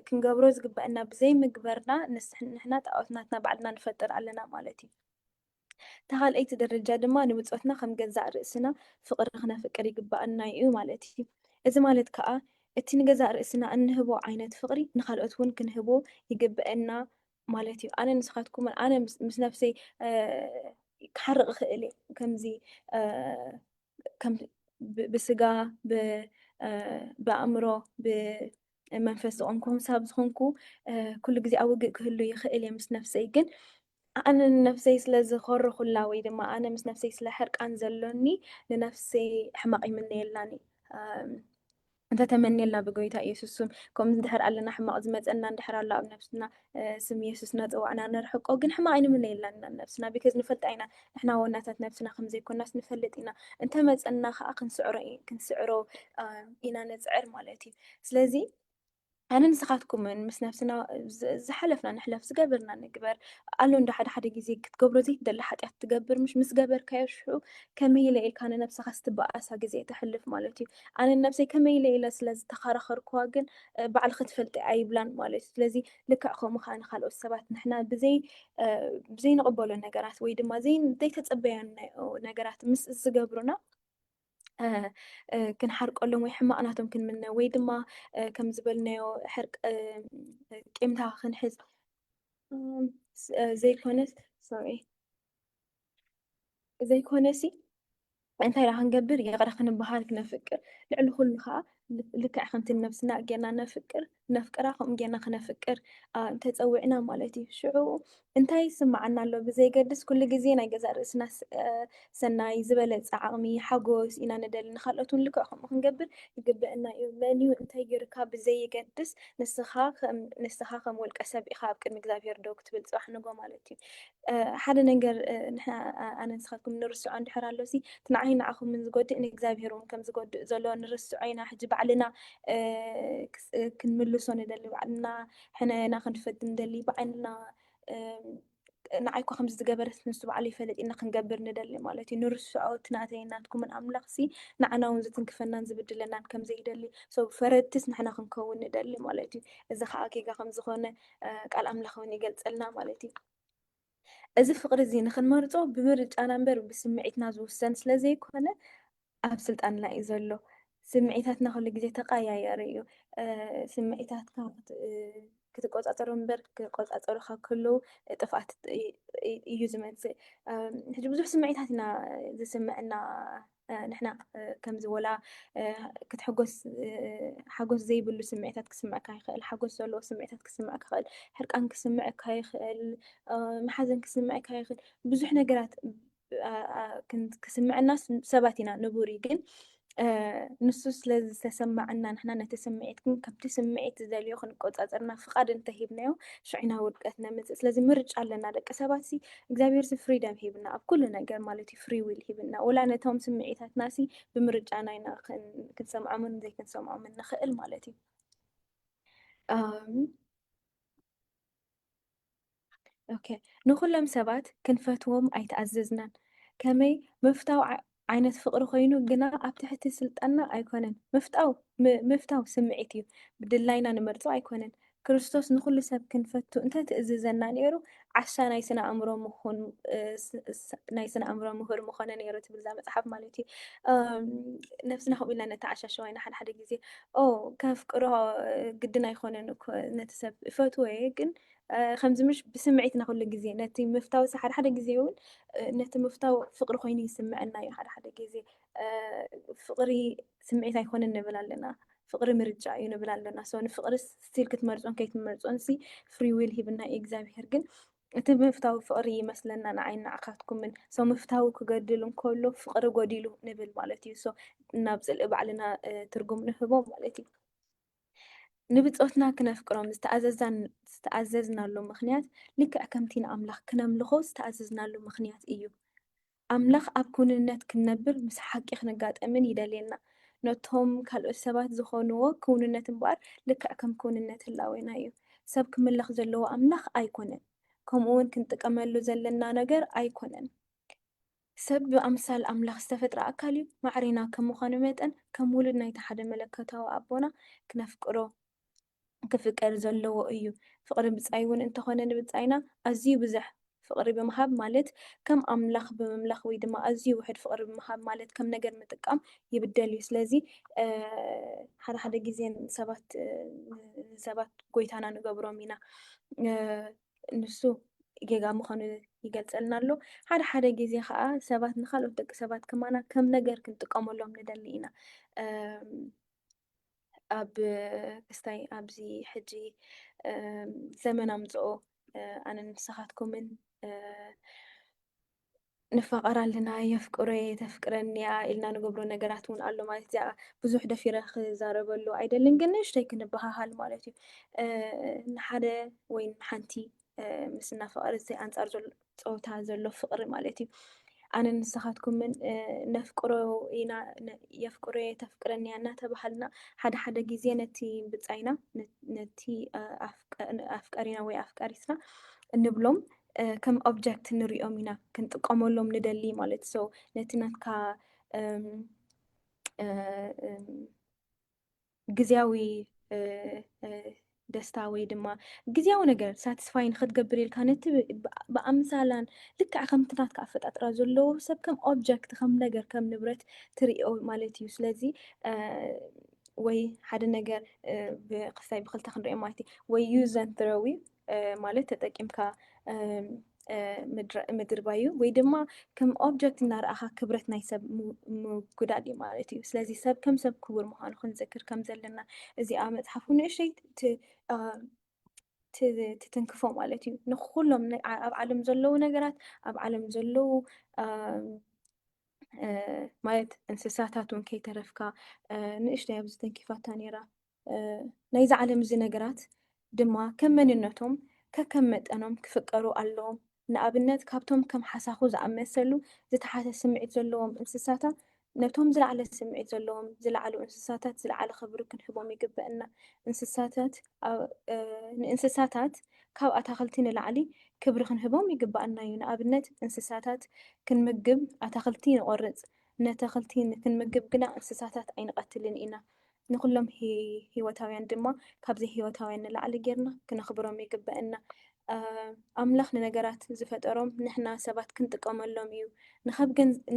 [SPEAKER 1] ክንገብሮ ዝግበእና ብዘይ ምግበርና ንሕና ጣኦት ናትና ባዕልና ንፈጥር ኣለና ማለት እዩ። እታ ካልኣይቲ ደረጃ ድማ ንብጾትና ከም ገዛእ ርእስና ፍቅሪ ክነፍቅር ይግበኣና እዩ ማለት እዩ። እዚ ማለት ከኣ እቲ ንገዛእ ርእስና እንህቦ ዓይነት ፍቅሪ ንካልኦት እውን ክንህቦ ይግበእና ማለት እዩ። ኣነ ንስካትኩምን ኣነ ምስ ነፍሰይ ክሓርቅ ይክእል እየ ከምዚ ብስጋ ብኣእምሮ ብመንፈስ ዝቆምኩም ሳብ ዝኾንኩ ኩሉ ግዜ ኣብ ውግእ ክህሉ ይኽእል እየ ምስ ነፍሰይ ግን ኣነ ንነፍሰይ ስለ ዝኾረኹላ ወይ ድማ ኣነ ምስ ነፍሰይ ስለ ሕርቃን ዘሎኒ ንነፍሰይ ሕማቕ ይምነየላን እዩ እንተ ተመንየልና ብጎይታ ኢየሱስ ስም ከምኡ እንድሕር ኣለና ሕማቕ ዝመጸና እንድሕር ኣሎ ኣብ ነብስና ስም ኢየሱስ እናጸዋዕና ነርሕቆ ግን ሕማቕ ኣይንምነየላን ኢና ነብስና ቢከዝ ንፈልጣ ኢና ንሕና ዋናታት ነብስና ከም ዘይኮናስ ንፈልጥ ኢና እንተ መጸና ከኣ ክንስዕሮ ኢና ነጽዕር ማለት እዩ ስለዚ ኣነ ንስኻትኩምን ምስ ነፍስና ዝሓለፍና ንሕለፍ ዝገበርና ንግበር ኣሎ እንዶ ሓደ ሓደ ግዜ ክትገብሮ ዘይትደሊ ሓጢኣት ትገብር ምሽ ምስ ገበርካዮ ሽዑ ከመይ ኢለ ኢልካ ንነብስኻ ስትበኣሳ ግዜ ተሕልፍ ማለት እዩ ኣነ ነብሰይ ከመይ ኢለ ኢለ ስለ ዝተኸራኸርክዋ ግን ባዕል ክትፈልጢ ኣይብላን ማለት እዩ ስለዚ ልክዕ ከምኡ ከዓ ንካልኦት ሰባት ንሕና ብዘይ ብዘይንቕበሎ ነገራት ወይ ድማ ዘይተፀበዮ ነገራት ምስ ዝገብሩና ክንሓርቀሎም ወይ ሕማቕ ናቶም ክንምነ ወይ ድማ ከም ዝበልናዮ ሕርቅ ቂምታ ክንሕዝ ዘይኮነስ ሶሪ ዘይኮነሲ እንታይ ዳ ክንገብር ይቕረ ክንበሃል ክነፍቅር ልዕሊ ኩሉ ከዓ ልክዕ ከምቲ ነብስና ጌርና ነፍቅር ነፍቅራ ከምኡ ጌርና ክነፍቅር እንተጸዊዕና ማለት እዩ ሽዑ እንታይ ይስምዓና ኣሎ ብዘይገድስ ኩሉ ግዜ ናይ ገዛእ ርእስና ሰናይ ዝበለጸ ዓቕሚ ሓጎስ ኢና ንደሊ ንካልኦት እውን ልክዕ ከምኡ ክንገብር ይግበአና እዩ መን እዩ እንታይ ጌርካ ብዘይገድስ ንስኻ ከም ንስኻ ከም ውልቀ ሰብ ኢኻ ኣብ ቅድሚ እግዚኣብሄር ደው ክትብል ጽባሕ ንጎ ማለት እዩ ሓደ ነገር ንሕና ኣነ ንስኻትኩም ንርስዖ እንድሕር ኣሎሲ እቲ ንዓይን ንዓኹምን ዝጎድእ ንእግዚኣብሄር እውን ከም ዝጎድእ ዘሎ ንርስዖ ኢና ሕጂ ባዕልና ክንምልሶ ንደሊ ባዕልና ሕነና ክንፈት ንደሊ ባዕልና ንዓይ እኳ ከምዚ ዝገበረት ንሱ ባዕሉ ይፈለጥ ኢና ክንገብር ንደሊ ማለት እዩ ንርስዖ እቲ ናተይ ናትኩምን ኣምላኽ ሲ ንዓና እውን ዝትንክፈናን ዝብድለናን ከም ዘይደሊ ሰው ፈረድትስ ንሕና ክንከውን ንደሊ ማለት እዩ እዚ ከዓ ጌጋ ከም ዝኾነ ቃል ኣምላኽ እውን ይገልጸልና ማለት እዩ። እዚ ፍቕሪ እዚ ንኽንመርጾ ብምርጫና እምበር ብስምዒትና ዝውሰን ስለ ዘይኮነ ኣብ ስልጣንና እዩ ዘሎ። ስምዒታትና ኩሉ ግዜ ተቀያያሪ እዩ ስምዒታትካ ክትቆፃፀሩ እምበር ክቆፃፀሩካ ከለዉ ጥፍኣት እዩ ዝመፅእ ሕጂ ብዙሕ ስምዒታት ኢና ዝስምዐና ንሕና ከምዚ ወላ ክትሕጎስ ሓጎስ ዘይብሉ ስምዒታት ክስምዕካ ይኽእል፣ ሓጎስ ዘለዎ ስምዒታት ክስምዕካ ይኽእል፣ ሕርቃን ክስምዕካ ይኽእል፣ መሓዘን ክስምዕካ ይኽእል፣ ብዙሕ ነገራት ክስምዐና ሰባት ኢና ንቡር እዩ ግን ንሱ ስለ ዝተሰማዐና ንሕና ነቲ ስምዒት ግን ከምቲ ስምዒት ዝደልዮ ክንቆፃፀርና ፍቓድ እንተሂብናዮ ሽዑና ውድቀት ነምፅእ ስለዚ ምርጫ ኣለና ደቂ ሰባት እግዚኣብሔር ሲ ፍሪደም ሂብና ኣብ ኩሉ ነገር ማለት እዩ ፍሪ ዊል ሂብና ወላ ነቶም ስምዒታትና ሲ ብምርጫና ኢና ክንሰምዖምን ዘይክንሰምዖምን ንኽእል ማለት እዩ ኦኬ ንኹሎም ሰባት ክንፈትዎም ኣይተኣዘዝናን ከመይ ምፍታው ዓይነት ፍቕሪ ኮይኑ ግና ኣብ ትሕቲ ስልጣንና ኣይኮነን። ምፍታው ምፍታው ስምዒት እዩ፣ ብድላይና ንመርጾ ኣይኮነን። ክርስቶስ ንኹሉ ሰብ ክንፈቱ እንተ ትእዝዘና ነይሩ ዓሻ ናይ ስነ ኣእምሮ ምኹን ናይ ስነ ኣእምሮ ምሁር ምኾነ ነይሩ ትብል እዛ መጽሓፍ ማለት እዩ። ነብስና ከምኡ ኢልና ነተዓሻሸዋ ኢና ሓደ ሓደ ግዜ ኦ ከፍቅሮ ግድን ኣይኮነን እኮ ነቲ ሰብ እፈትዎ እየ ግን ከምዚ ምሽ ብስምዒትና ኩሉ ግዜ ነቲ ምፍታው ሓደ ሓደ ግዜ እውን ነቲ ምፍታው ፍቅሪ ኮይኑ ይስምዐና እዩ ሓደ ሓደ ግዜ ፍቅሪ ስምዒት ኣይኮነን ንብል ኣለና ፍቅሪ ምርጫ እዩ ንብል ኣለና ሰው ንፍቅሪ ስቲል ክትመርፆን ከይትመርፆን ሲ ፍሪ ዊል ሂብና እዩ እግዚኣብሄር ግን እቲ ምፍታዊ ፍቅሪ ይመስለና ንዓይ ንዓካትኩምን ሰው ምፍታዊ ክገድል እንከሎ ፍቅሪ ጎዲሉ ንብል ማለት እዩ ሰው ናብ ፅልኢ ባዕልና ትርጉም ንህቦ ማለት እዩ ንብጾትና ክነፍቅሮም ዝተኣዘዝናሉ ምኽንያት ልክዕ ከምቲ ንኣምላኽ ክነምልኾ ዝተኣዘዝናሉ ምኽንያት እዩ። ኣምላኽ ኣብ ክውንነት ክንነብር ምስ ሓቂ ክንጋጠምን ይደልየና። ነቶም ካልኦት ሰባት ዝኾንዎ ክውንነት እምበኣር ልክዕ ከም ክውንነት ህላዌና እዩ። ሰብ ክምለኽ ዘለዎ ኣምላኽ ኣይኮነን፣ ከምኡውን ክንጥቀመሉ ዘለና ነገር ኣይኮነን። ሰብ ብኣምሳል ኣምላኽ ዝተፈጥረ ኣካል እዩ። ማዕሬና ከም ምዃኑ መጠን፣ ከም ውሉድ ናይቲ ሓደ መለኮታዊ ኣቦና ክነፍቅሮ ክፍቀድ ዘለዎ እዩ። ፍቕሪ ብጻይ እውን እንተኾነ ንብጻይና ኣዝዩ ብዙሕ ፍቕሪ ብምሃብ ማለት ከም ኣምላኽ ብምምላኽ ወይ ድማ ኣዝዩ ውሑድ ፍቕሪ ብምሃብ ማለት ከም ነገር ምጥቃም ይብደል እዩ። ስለዚ ሓደ ሓደ ግዜ ሰባት ንሰባት ጎይታና ንገብሮም ኢና። ንሱ ጌጋ ምዃኑ ይገልጸልና ኣሎ። ሓደ ሓደ ግዜ ከዓ ሰባት ንካልኦት ደቂ ሰባት ከማና ከም ነገር ክንጥቀመሎም ንደሊ ኢና። ኣብ ክስታይ ኣብዚ ሕጂ ዘመን ኣምጽኦ ኣነ ንስኻትኩምን ንፋቐር ኣለና፣ የፍቅሮ እየ፣ ተፍቅረኒ እያ ኢልና ንገብሮ ነገራት እውን ኣሎ ማለት እዚኣ ብዙሕ ደፊረ ክዛረበሉ ኣይደልን፣ ግን ንእሽተይ ክንበሃሃል ማለት እዩ ንሓደ ወይ ንሓንቲ ምስ እናፈቐረ እዚ ኣንፃር ዘሎ ፀወታ ዘሎ ፍቕሪ ማለት እዩ። ኣነ ንስኻትኩምን ነፍቅሮ ኢና የፍቅሮ እየ ተፍቅረኒ እያ እናተባሃልና ሓደ ሓደ ግዜ ነቲ ብፃይና ነቲ ኣፍቀሪና ወይ ኣፍቀሪትና እንብሎም ከም ኦብጀክት ንሪኦም ኢና ክንጥቀመሎም ንደሊ ማለት ሶ ነቲ ናትካ ግዜያዊ ደስታ ወይ ድማ ግዜያዊ ነገር ሳቲስፋይ ንክትገብር ኢልካ ነቲ ብኣምሳላን ልክዕ ከምቲ ናትካ ኣፈጣጥራ ዘለዎ ሰብ ከም ኦብጀክት ከም ነገር ከም ንብረት ትርእዮ ማለት እዩ ስለዚ ወይ ሓደ ነገር ብክሳይ ብክልተ ክንሪኦ ማለት እዩ ወይ ዩዘን ትረዊ ማለት ተጠቂምካ ምድርባዩ ወይ ድማ ከም ኦብጀክት እናረኣኻ ክብረት ናይ ሰብ ምጉዳል እዩ ማለት እዩ ስለዚ ሰብ ከም ሰብ ክቡር ምዃኑ ክንዝክር ከም ዘለና እዚኣ መፅሓፍ ንእሸይ ትትንክፎ ማለት እዩ ንኩሎም ኣብ ዓለም ዘለዉ ነገራት ኣብ ዓለም ዘለዉ ማለት እንስሳታት እውን ከይተረፍካ ንእሽተይ ኣብ ዝተንኪፋታ ነይራ ናይዛ ዓለም እዚ ነገራት ድማ ከም መንነቶም ከከም መጠኖም ክፍቀሩ ኣለዎም። ንኣብነት ካብቶም ከም ሓሳኹ ዝኣመሰሉ ዝተሓተ ስምዒት ዘለዎም እንስሳታ ነቶም ዝለዓለ ስምዒት ዘለዎም ዝለዓሉ እንስሳታት ዝለዓለ ክብሪ ክንህቦም ይግበእና። እንስሳታት ንእንስሳታት ካብ ኣታኽልቲ ንላዕሊ ክብሪ ክንህቦም ይግበኣና እዩ። ንኣብነት እንስሳታት ክንምግብ ኣታኽልቲ ንቆርጽ፣ ነተኽልቲ ክንምግብ ግና እንስሳታት ኣይንቐትልን ኢና። ንዅሎም ህይወታውያን ድማ ካብ ዘይህይወታውያን ንላዕሊ ጌርና ክነኽብሮም ይግበእና። ኣምላኽ ንነገራት ዝፈጠሮም ንሕና ሰባት ክንጥቀመሎም እዩ።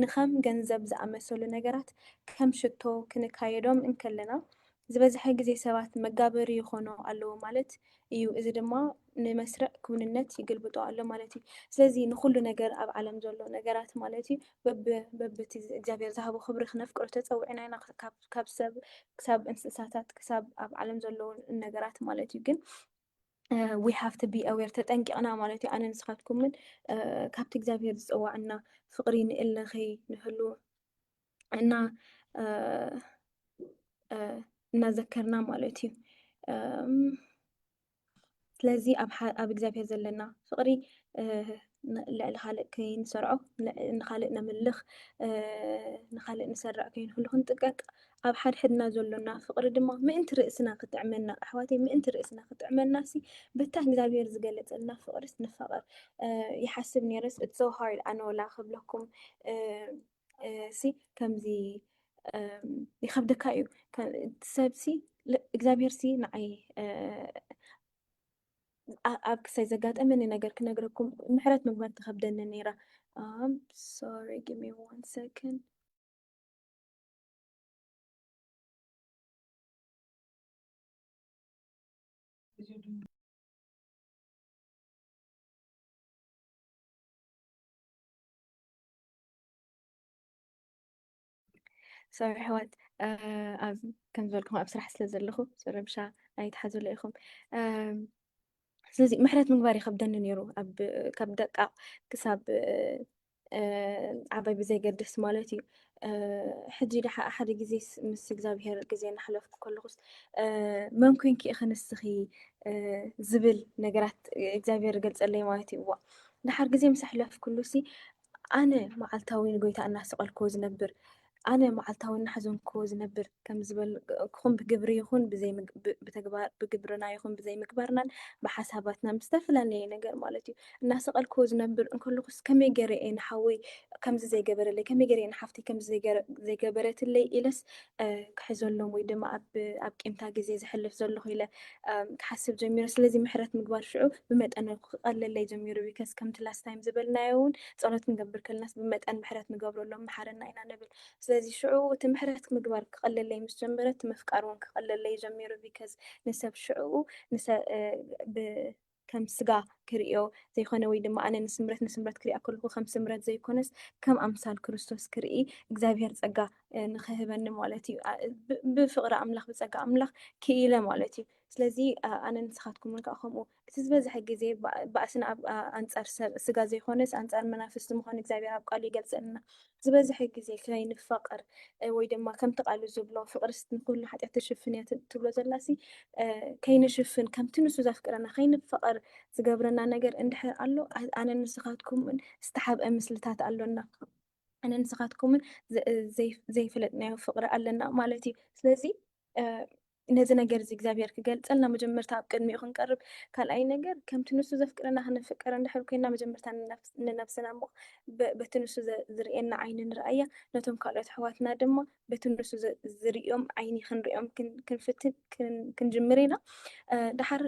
[SPEAKER 1] ንኸም ገንዘብ ዝኣመሰሉ ነገራት ከም ሽቶ ክንካየዶም እንከለና፣ ዝበዝሐ ግዜ ሰባት መጋበሪ ይዀኑ ኣለዉ ማለት እዩ፣ እዚ ድማ ንመስርዕ ክውንነት ይግልብጦ ኣሎ ማለት እዩ። ስለዚ ንዅሉ ነገር ኣብ ዓለም ዘሎ ነገራት ማለት እዩ በብቲ እግዚኣብሄር ዝሃቦ ክብሪ ክነፍቅሮ ተጸዊዕና ኢና። ካብ ካብ ሰብ ክሳብ እንስሳታት ክሳብ ኣብ ዓለም ዘለዉ ነገራት ማለት እዩ ግን ዊ ሃቭ ቱ ቢ ኣዌር ተጠንቂቕና ማለት እዩ ኣነ ንስኻትኩምን ካብቲ እግዚኣብሄር ዝፀዋዕና ፍቕሪ ንእለ ከይንህሉ እና እናዘከርና ማለት እዩ ስለዚ ኣብ እግዚኣብሔር ዘለና ፍቕሪ ልዕሊ ካልእ ከይንሰርዖ ንካልእ ነምልኽ ንካልእ ንሰርዕ ከይንህሉ ክንጥቀቅ ኣብ ሓድሕድና ዘሎና ፍቕሪ ድማ ምእንቲ ርእስና ክጥዕመና ኣሕዋተይ ምእንቲ ርእስና ክጥዕመና ሲ በታ እግዚኣብሔር ዝገለጸልና ፍቕሪስ ንፋቐር ይሓስብ ነይረስ እትሰውሃር ኣነወላ ክብለኩም ሲ ከምዚ ይከብደካ እዩ ሰብሲ እግዚኣብሄር ሲ ንዓይ ኣብ ክሳይ ዘጋጠመኒ ነገር ክነግረኩም ምሕረት ምግባር ተኸብደኒ ነይራ ሶሪ ጊሚ ዋን ሰከንድ ሰው ኣሕዋት ኣብ ከም ዝበልኩም ኣብ ስራሕ ስለ ዘለኹ ረብሻ ኣይትሓዙለ ኢኹም ስለዚ ምሕረት ምግባር ይከብደኒ ነይሩ ካብ ደቃ ክሳብ ዓባይ ብዘይገድስ ማለት እዩ ሕጂ ድሓ ሓደ ግዜ ምስ እግዚኣብሄር ግዜ እናሕለፍኩ ከለኹስ መን ኮንኪ ኢኺ ንስኺ ዝብል ነገራት እግዚኣብሄር ገልፀለይ ማለት እዩ እዋ ድሓር ግዜ ምስ ኣሕለፍኩሉሲ ኣነ መዓልታዊ ንጐይታ እናሰቐልክዎ ዝነብር፣ ኣነ መዓልታዊ እናሓዘንክዎ ዝነብር ከም ዝበልክኹም ብግብሪ ይኹን ብተግባር፣ ብግብርና ይኹን ብዘይምግባርናን ብሓሳባትናን ብዝተፈላለየ ነገር ማለት እዩ እናሰቐልክዎ ዝነብር እንከለኹስ ከመይ ገይረ እየ ንሓወይ ከምዚ ዘይገበረለይ፣ ከመይ ገይረ እየ ንሓፍተይ ከምዚ ዘይገበረትለይ ኢለስ ክሕዘሎም ወይ ድማ ኣብ ቂምታ ግዜ ዝሕልፍ ዘለኹ ኢለ ክሓስብ ጀሚሩ ስለዚ ምሕረት ምግባር ሽዑ ብመጠን ክቐለለይ ጀሚሩ ቢከስ ከምቲ ላስት ታይም ዝበልናዮ እውን ፀሎት ክንገብር ከለናስ ብመጠን ምሕረት ንገብረሎም መሓረና ኢና ንብል ስለዚ ሽዑ እቲ ምሕረት ምግባር ክቐለለይ ምስ ጀመረ እቲ ምፍቃር እውን ክቐለለይ ጀሚሩ ቢከስ ንሰብ ሽዑ ከም ስጋ ክርእዮ ዘይኮነ ወይ ድማ ኣነ ንስምረት ንስምረት ክሪኣ ከለኹ ከም ስምረት ዘይኮነስ ከም ኣምሳል ክርስቶስ ክርኢ እግዚኣብሔር ጸጋ ንክህበኒ ማለት እዩ ብፍቕሪ ኣምላኽ ብጸጋ ኣምላኽ ክኢለ ማለት እዩ ስለዚ ኣነ ንስኻትኩም እውን ከዓ ከምኡ እቲ ዝበዝሐ ግዜ ባእስና ኣንጻር ሰብ ስጋ ዘይኮነስ ኣንጻር መናፍስቲ ምዃኑ እግዚኣብሔር ኣብ ቃሉ ይገልጸልና ዝበዝሐ ግዜ ከይ ንፋቀር ወይ ድማ ከምቲ ቃሉ ዝብሎ ፍቅርስ ንኩሉ ሓጢኣት ትሽፍን እያ ትብሎ ዘላሲ ከይ ንሽፍን ከምቲ ንሱ ዘፍቅረና ከይ ንፋቀር ዝገብረና ነገር እንድሕር ኣሎ ኣነ ንስካትኩምን ዝተሓብአ ምስልታት ኣሎና ኣነ ንስካትኩምን ዘይ ዘይፈለጥናዮ ፍቅሪ ኣለና ማለት እዩ ስለዚ ነዚ ነገር እዚ እግዚኣብሔር ክገልጸልና መጀመርታ ኣብ ቅድሚኡ ክንቀርብ፣ ካልኣይ ነገር ከምቲ ንሱ ዘፍቅረና ክንፍቀር እንድሕር ኮይንና መጀመርታ ንነብስና እሞ በቲ ንሱ ዝርእየና ዓይኒ ንርኣያ፣ ነቶም ካልኦት ኣሕዋትና ድማ በቲ ንሱ ዝርእዮም ዓይኒ ክንርእዮም ክንፍትን ክንጅምር ኢና። ድሓር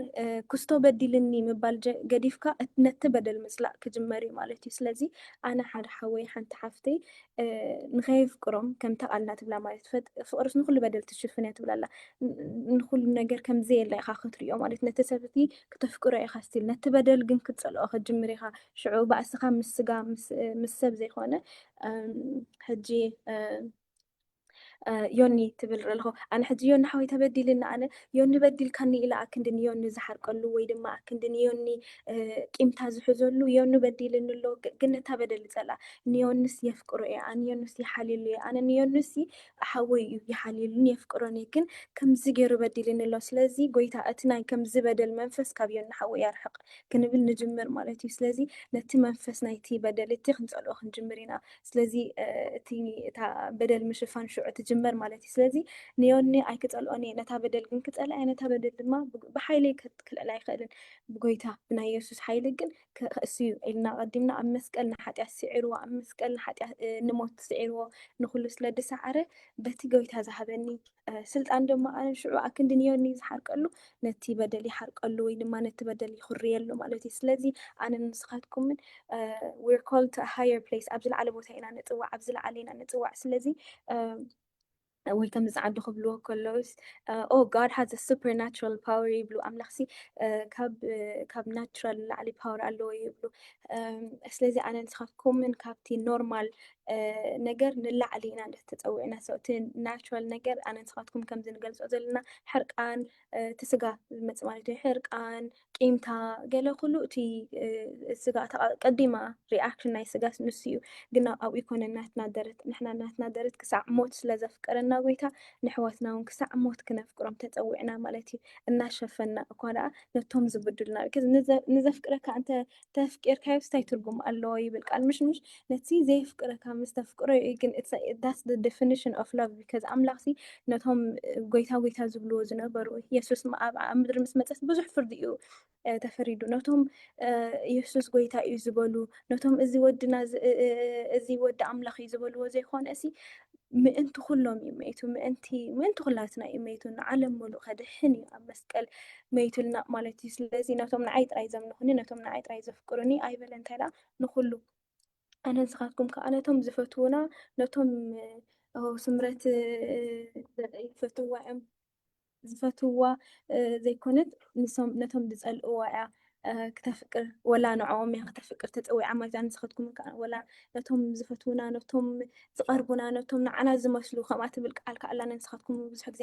[SPEAKER 1] ክስቶ በዲልኒ ምባል ገዲፍካ ነቲ በደል ምጽላእ ክጅመር እዩ ማለት እዩ። ስለዚ ኣነ ሓደ ሓወይ ሓንቲ ሓፍተይ ንኸየፍቅሮም ከምታ ቃልና ትብላ ማለት ፍቅርስ ንኩሉ በደል ትሽፍን እያ ትብላ ኣላ ንኩሉ ነገር ከም ዘየለ ኢኻ ክትሪኦ ማለት ነቲ ሰብ እቲ ክተፍቅሮ ኢኻ ስቲል ነቲ በደል ግን ክትፀልኦ ከጅምር ኢኻ ሽዑ ባእስኻ ምስ ስጋ ምስ ሰብ ዘይኮነ ሕጂ ዮኒ ትብል ርልኹ ኣነ ሕጂ ዮኒ ሓወይ ተበዲልኒ ኣነ ዮኒ በዲልካኒ ኢለ ኣክንዲ ንዮኒ ዝሓርቀሉ ወይ ድማ ኣክንዲ ንዮኒ ቂምታ ዝሕዘሉ ዮኒ በዲልኒ ኣሎ ግን ነታ በደል ይጸልኣ ንዮንስ የፍቅሮ እየ ኣነ ዮንስ ይሓልየሉ እየ ኣነ ንዮንስ ሓወይ እዩ ይሓልየሉን የፍቅሮን እየ ግን ከምዚ ገይሩ በዲልኒ ኣሎ ስለዚ ጎይታ እቲ ናይ ከምዚ በደል መንፈስ ካብ ዮኒ ሓወይ ያርሕቕ ክንብል ንጅምር ማለት እዩ ስለዚ ነቲ መንፈስ ናይቲ በደል እቲ ክንጸልኦ ክንጅምር ኢና ስለዚ እቲ እታ በደል ምሽፋን ሽዑ ትጅመር ማለት እዩ። ስለዚ ንዮኒ ኣይክጸልኦን እየ፣ ነታ በደል ግን ክጸልኣ እየ፣ ነታ በደል ድማ ብሓይለይ ክልዕላ ኣይክእልን፣ ብጎይታ ብናይ የሱስ ሓይሊ ግን ክኸእስ እዩ ኢልና ኣቐዲምና ኣብ መስቀል ንሓጢኣት ስዒርዎ፣ ኣብ መስቀል ንሓጢኣት ንሞት ስዒርዎ ንኹሉ ስለ ዝሰዓረ በቲ ጎይታ ዝሃበኒ ስልጣን ድማ ኣነ ሽዑ ኣክንዲ ንዮኒ ዝሓርቀሉ ነቲ በደል ይሓርቀሉ ወይ ድማ ነቲ በደል ይኹርየሉ ማለት እዩ ስለዚ ኣነ ንስኻትኩምን ዊር ኮል ቱ ሃየር ፕሌስ ኣብ ዝለዓለ ቦታ ኢና ንፅዋዕ ኣብ ዝለዓለ ኢና ንፅዋዕ ስለዚ ወይ ከም ዝዓዱ ክብልዎ ከለውስ ኦ ጋድ ሃዝ ሱፐር ናራል ፓወር ይብሉ ኣምላኽሲ ካብ ናትራል ላዕሊ ፓወር ኣለዎ ይብሉ ስለዚ ኣነ ንስኻትኩምን ካብቲ ኖርማል ነገር ንላዕሊ ኢና እንድሕር ተፀዊዕና ሰው እቲ ናቹራል ነገር ኣነ ንስኻትኩም ከምዚ ንገልፆ ዘለና ሕርቃን እቲ ስጋ ዝመፅእ ማለት እዩ ሕርቃን ቂምታ ገለ ኩሉ እቲ ስጋ ቀዲማ ሪኣክሽን ናይ ስጋ ንሱ እዩ ግና ኣብኡ ይኮነ ናትና ደረት ንሕና ናትና ደረት ክሳዕ ሞት ስለ ዘፍቅረና ጎይታ ንሕዋትና እውን ክሳዕ ሞት ክነፍቅሮም ተፀዊዕና ማለት እዩ እናሸፈና እኳ ደኣ ነቶም ዝብድሉና ንዘፍቅረካ እንተ ተፍቂርካዮስ ታይ ትርጉም ኣለዎ ይብል ቃል ምሽ ምሽ ነቲ ዘየፍቅረካ ምስ ተፍቅሮ እዩ ግን ዳስ ደፊኒሽን ኦፍ ላቭ ቢካዝ ኣምላኽ ሲ ነቶም ጎይታ ጎይታ ዝብልዎ ዝነበሩ የሱስ ኣብ ኣብ ምድሪ ምስ መፀት ብዙሕ ፍርዲ እዩ እ፣ ተፈሪዱ ነቶም እ፣ የሱስ ጎይታ እዩ ዝበሉ ነቶም እዚ ወድና እዚ እ፣ እ፣ እዚ ወዲ ኣምላኽ እዩ ዝበልዎ ዘይኮነ እሲ ምእንቲ ኩሎም እዩ መይቱ ምእንቲ ምእንቲ ኩላትና እዩ መይቱ ንዓለም ምሉእ ከድሕን እዩ ኣብ መስቀል መይቱልና ማለት እዩ ስለዚ ነቶም ንዓይ ጥራይ ዘምልኹኒ ነቶም ንዓይ ጥራይ ዘፍቅሩኒ ኣይበለ እንታይ ደኣ ንኩሉ ኣነ ንስኻትኩም ከዓ ነቶም ዝፈትዉና ነቶም ስምረት ይፈትዋ እዮም ዝፈትውዋ ዘይኮነት ንሶም ነቶም ዝጸልእዋ እያ ክተፍቅር ወላ ንዕኦም እያ ክተፍቅር ተጸዊዓ ማለት እያ ንስኸትኩም ከዓ ወላ ነቶም ዝፈትውና ነቶም ዝቐርቡና ነቶም ንዓና ዝመስሉ ከምኣ ትብል ቃል ከዓ ኣላና ንስኻትኩም ብዙሕ ግዜ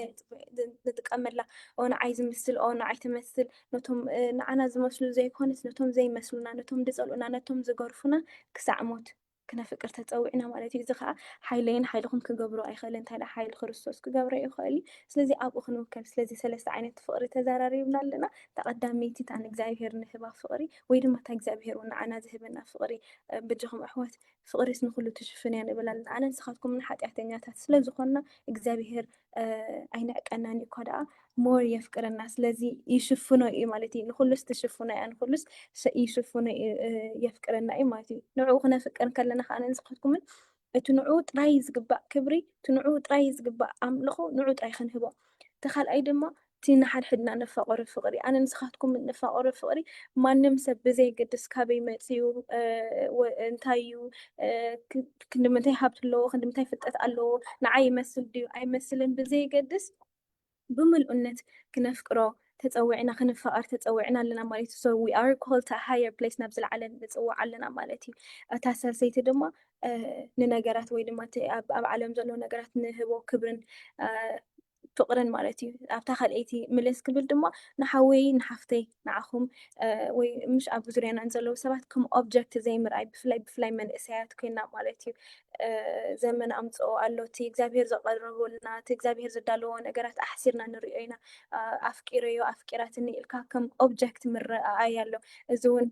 [SPEAKER 1] ንጥቀመላ ኦ ንዓይ ዝምስል ኦ ንዓይ ትመስል ነቶም ንዓና ዝመስሉ ዘይኮነስ ነቶም ዘይመስሉና ነቶም ዝጸልኡና ነቶም ዝገርፉና ክሳዕ ሞት ክነፍቅር ተጸዊዕና ማለት እዩ። እዚ ከኣ ሓይለይን ሓይልኹም ክገብሮ ኣይክእልን እንታይ ደኣ ሓይሊ ክርስቶስ ክገብሮ ይኽእል እዩ። ስለዚ ኣብኡ ክንውከል ስለዚ ሰለስተ ዓይነት ፍቕሪ ተዛራሪብና ኣለና። እታ ቀዳመይቲ እታ ንእግዚኣብሄር እንህባ ፍቕሪ ወይ ድማ እታ እግዚኣብሄር እውን ንዓና ዝህበና ፍቕሪ በጃኹም ኣሕዋት ፍቕርስ ንኹሉ ትሽፍን እያ ንብል ኣለና። ኣነ ንስኻትኩምን ሓጢኣተኛታት ስለ ዝኾንና እግዚኣብሄር ኣይንዕቀናን እዩ እኳ ደኣ ሞር የፍቅረና ስለዚ ይሽፍኖ እዩ ማለት እዩ ንኩሉስ ትሽፍኖ እያ ንኩሉስ ይሽፍኖ የፍቅረና እዩ ማለት እዩ ንዕኡ ክነፍቅር ከለና ከዓ ንስካትኩምን እቲ ንዑ ጥራይ ዝግባእ ክብሪ እቲ ንዑ ጥራይ ዝግባእ ኣምልኾ ንዑ ጥራይ ክንህቦ እቲ ካልኣይ ድማ እቲ ንሓድሕድና እነፋቕሮ ፍቕሪ፣ ኣነ ንስኻትኩም እነፋቕሮ ፍቕሪ፣ ማንም ሰብ ብዘየገድስ ካበይ መጺኡ፣ እንታይ እዩ፣ ክንድምንታይ ሃብቲ ኣለዎ፣ ክንድምንታይ ፍልጠት ኣለዎ፣ ንዓይ ይመስል ድዩ ኣይመስልን ብዘየገድስ ብምልኡነት ክነፍቅሮ ተጸዊዕና፣ ክንፋቐር ተጸዊዕና ኣለና ማለት እዩ። So we are called to a higher place፣ ናብ ዝለዓለ ንጽዋዕ ኣለና ማለት እዩ። እታ ሳልሰይቲ ድማ ንነገራት ወይ ድማ እቲ ኣብ ዓለም ዘሎ ነገራት ንህቦ ክብርን ፍቅርን ማለት እዩ ኣብታ ካልኣይቲ ምልስ ክብል ድማ ንሓወይ ንሓፍተይ ንዓኹም ወይ ምሽ ኣብ ዙርያና ዘለዉ ሰባት ከም ኦብጀክት ዘይምርኣይ ብፍላይ ብፍላይ መንእሰያት ኮይና ማለት እዩ ዘመን ኣምፅኦ ኣሎ እቲ እግዚኣብሄር ዘቐረበልና እቲ እግዚኣብሄር ዘዳለዎ ነገራት ኣሕሲርና ንሪኦ ኢና ኣፍቂረዮ ኣፍቂራትኒ ኢልካ ከም ኦብጀክት ምረኣይ ኣሎ እዚ እውን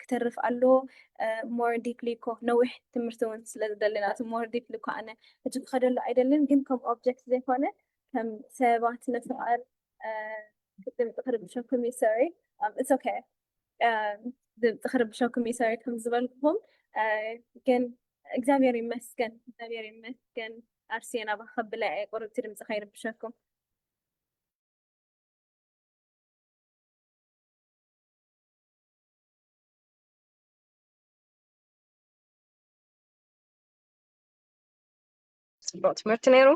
[SPEAKER 1] ክተርፍ ኣለዎ ሞር ዲፕሊ እኮ ነዊሕ ትምህርቲ እውን ስለ ዝደለና እቲ ሞር ዲፕሊ እኮ ኣነ ሕጂ ክኸደሉ ኣይደልን ግን ከም ኦብጀክት ዘይኮነ ከም ሰባት ንፍቐር ድምፂ ክርብሸኩም እዩ ሰሪ ኢትስ ኦኬ ድምፂ ክርብሸኩም እዩ ሰሪ ከም ዝበልኩም ግን እግዚኣብሔር ይመስገን እግዚኣብሔር ይመስገን ኣርሴና ባህ ከብለ እየ ቁርብቲ ድምፂ ከይርብሸኩም
[SPEAKER 3] ፅቡቅ ትምህርቲ ነይሩ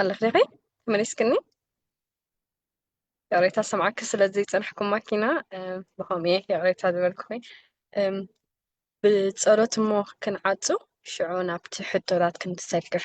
[SPEAKER 3] ኣለኺ ዲኺ ተመሊስክኒ ይቕሬታ ሰምዓኪ ስለ ዘይፀናሕኩም ማኪና ብኸምኡ እየ ይቕሬታ ዝበልኩኺ ብፀሎት እሞ ክንዓፁ ሽዑ ናብቲ ሕቶታት ክንሰግር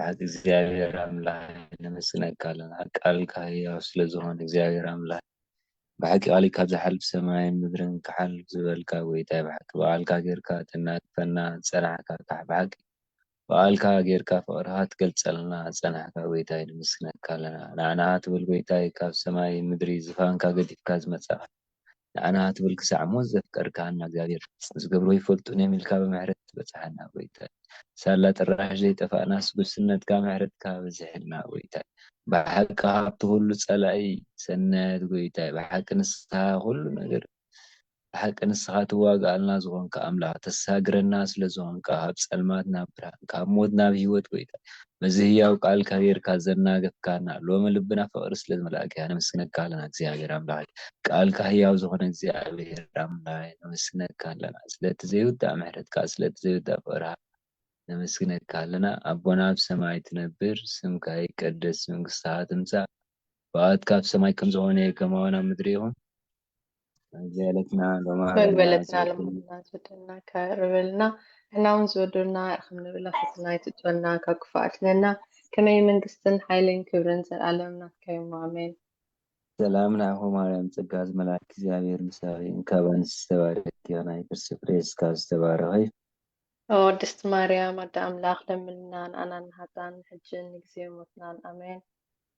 [SPEAKER 2] ኣሓት እግዚኣብሔር ኣምላኽ ነመስግነካ ኣለና ቃልካ ህያው ስለ ዝኾነ እግዚኣብሔር ኣምላኽ ብሓቂ ቃል ካብ ዝሓልፍ ሰማይን ምድርን ክሓልፍ ዝበልካ ጎይታይ ብሓቂ ብቃልካ ጌርካ ተናግፈና ዝጸናሕካ ካሕ ብሓቂ ብቃልካ ጌርካ ፍቅርካ ትገልጸልና ዝጸናሕካ ጎይታይ ነመስግነካ ኣለና ንዓና ትብል ጎይታይ ካብ ሰማይ ምድሪ ዝፋንካ ገዲፍካ ዝመጻኻ ንዓና ትብል ክሳዕ ሞት ዘፍቀርካና እግዚኣብሔር ዝገብርዎ ኣይፈልጡን እዮም ኢልካ ብምሕረት ትበጽሓና ጎይታይ ሳላ ጥራሽ ዘይጠፋእናስ ጉስነትካ ምሕረትካ በዚሕልና ጎይታይ ብሓቂ ካብቲ ኩሉ ጸላኢ ሰናያት ጎይታይ ብሓቂ ንስኻ ኩሉ ነገር ብሓቂ ንስኻ ትዋጋኣልና ዝኾንካ ኣምላኽ ተሳግረና ስለዝኾንካ ካብ ጸልማት ናብ ብርሃን ካብ ሞት ናብ ሕይወት ጎይታይ በዚ ህያው ቃል ካቢርካ ዘናገፍካና ሎሚ ልብና ፍቅሪ ስለ ዝመልኣኪ ነመስግነካ ኣለና እግዚኣብሔር ኣምላከይ ቃልካ ህያው ዝኮነ እግዚኣብሔር ኣምላከይ ነመስግነካ ኣለና ስለቲ ዘይውዳእ ምሕረትካ ስለቲ ዘይውዳእ ፍቅርካ ነመስግነካ ኣለና ኣቦና ኣብ ሰማይ ትነብር ስምካ ይቀደስ መንግስትካ ትምጻእ ፍቃድካ ኣብ ሰማይ ከም ዝኮነ ከማውን ኣብ ምድሪ ይኩን ዝያለትና ሎማ በል
[SPEAKER 3] ኣለና በለትና ዝወዱ ልሙድና ዝወደና ከር በልና ንሕና እውን ዝወደና ከም ንብላ ሕትና ይትጸና ካብ ክፉእ ኣድሕነና ከመይ መንግስትን ሓይልን ክብርን ዘልኣለም ናትካ ዮም ኣሜን ሰላም
[SPEAKER 2] ንዓኹ ማርያም ጸጋ ዝመልኣኪ እግዚኣብሔር ምሳኺ እንካብ ኣንስቲ ዝተባረኪ ዮና የክርስቲ ፍሬ ስጋኪ ዝተባረኸ እዩ ኦ
[SPEAKER 3] ቅድስቲ ማርያም ኣደ ኣምላኽ ለምንልና ንኣና ንሃጣን ሕጅን ንግዜ ሞትናን ኣሜን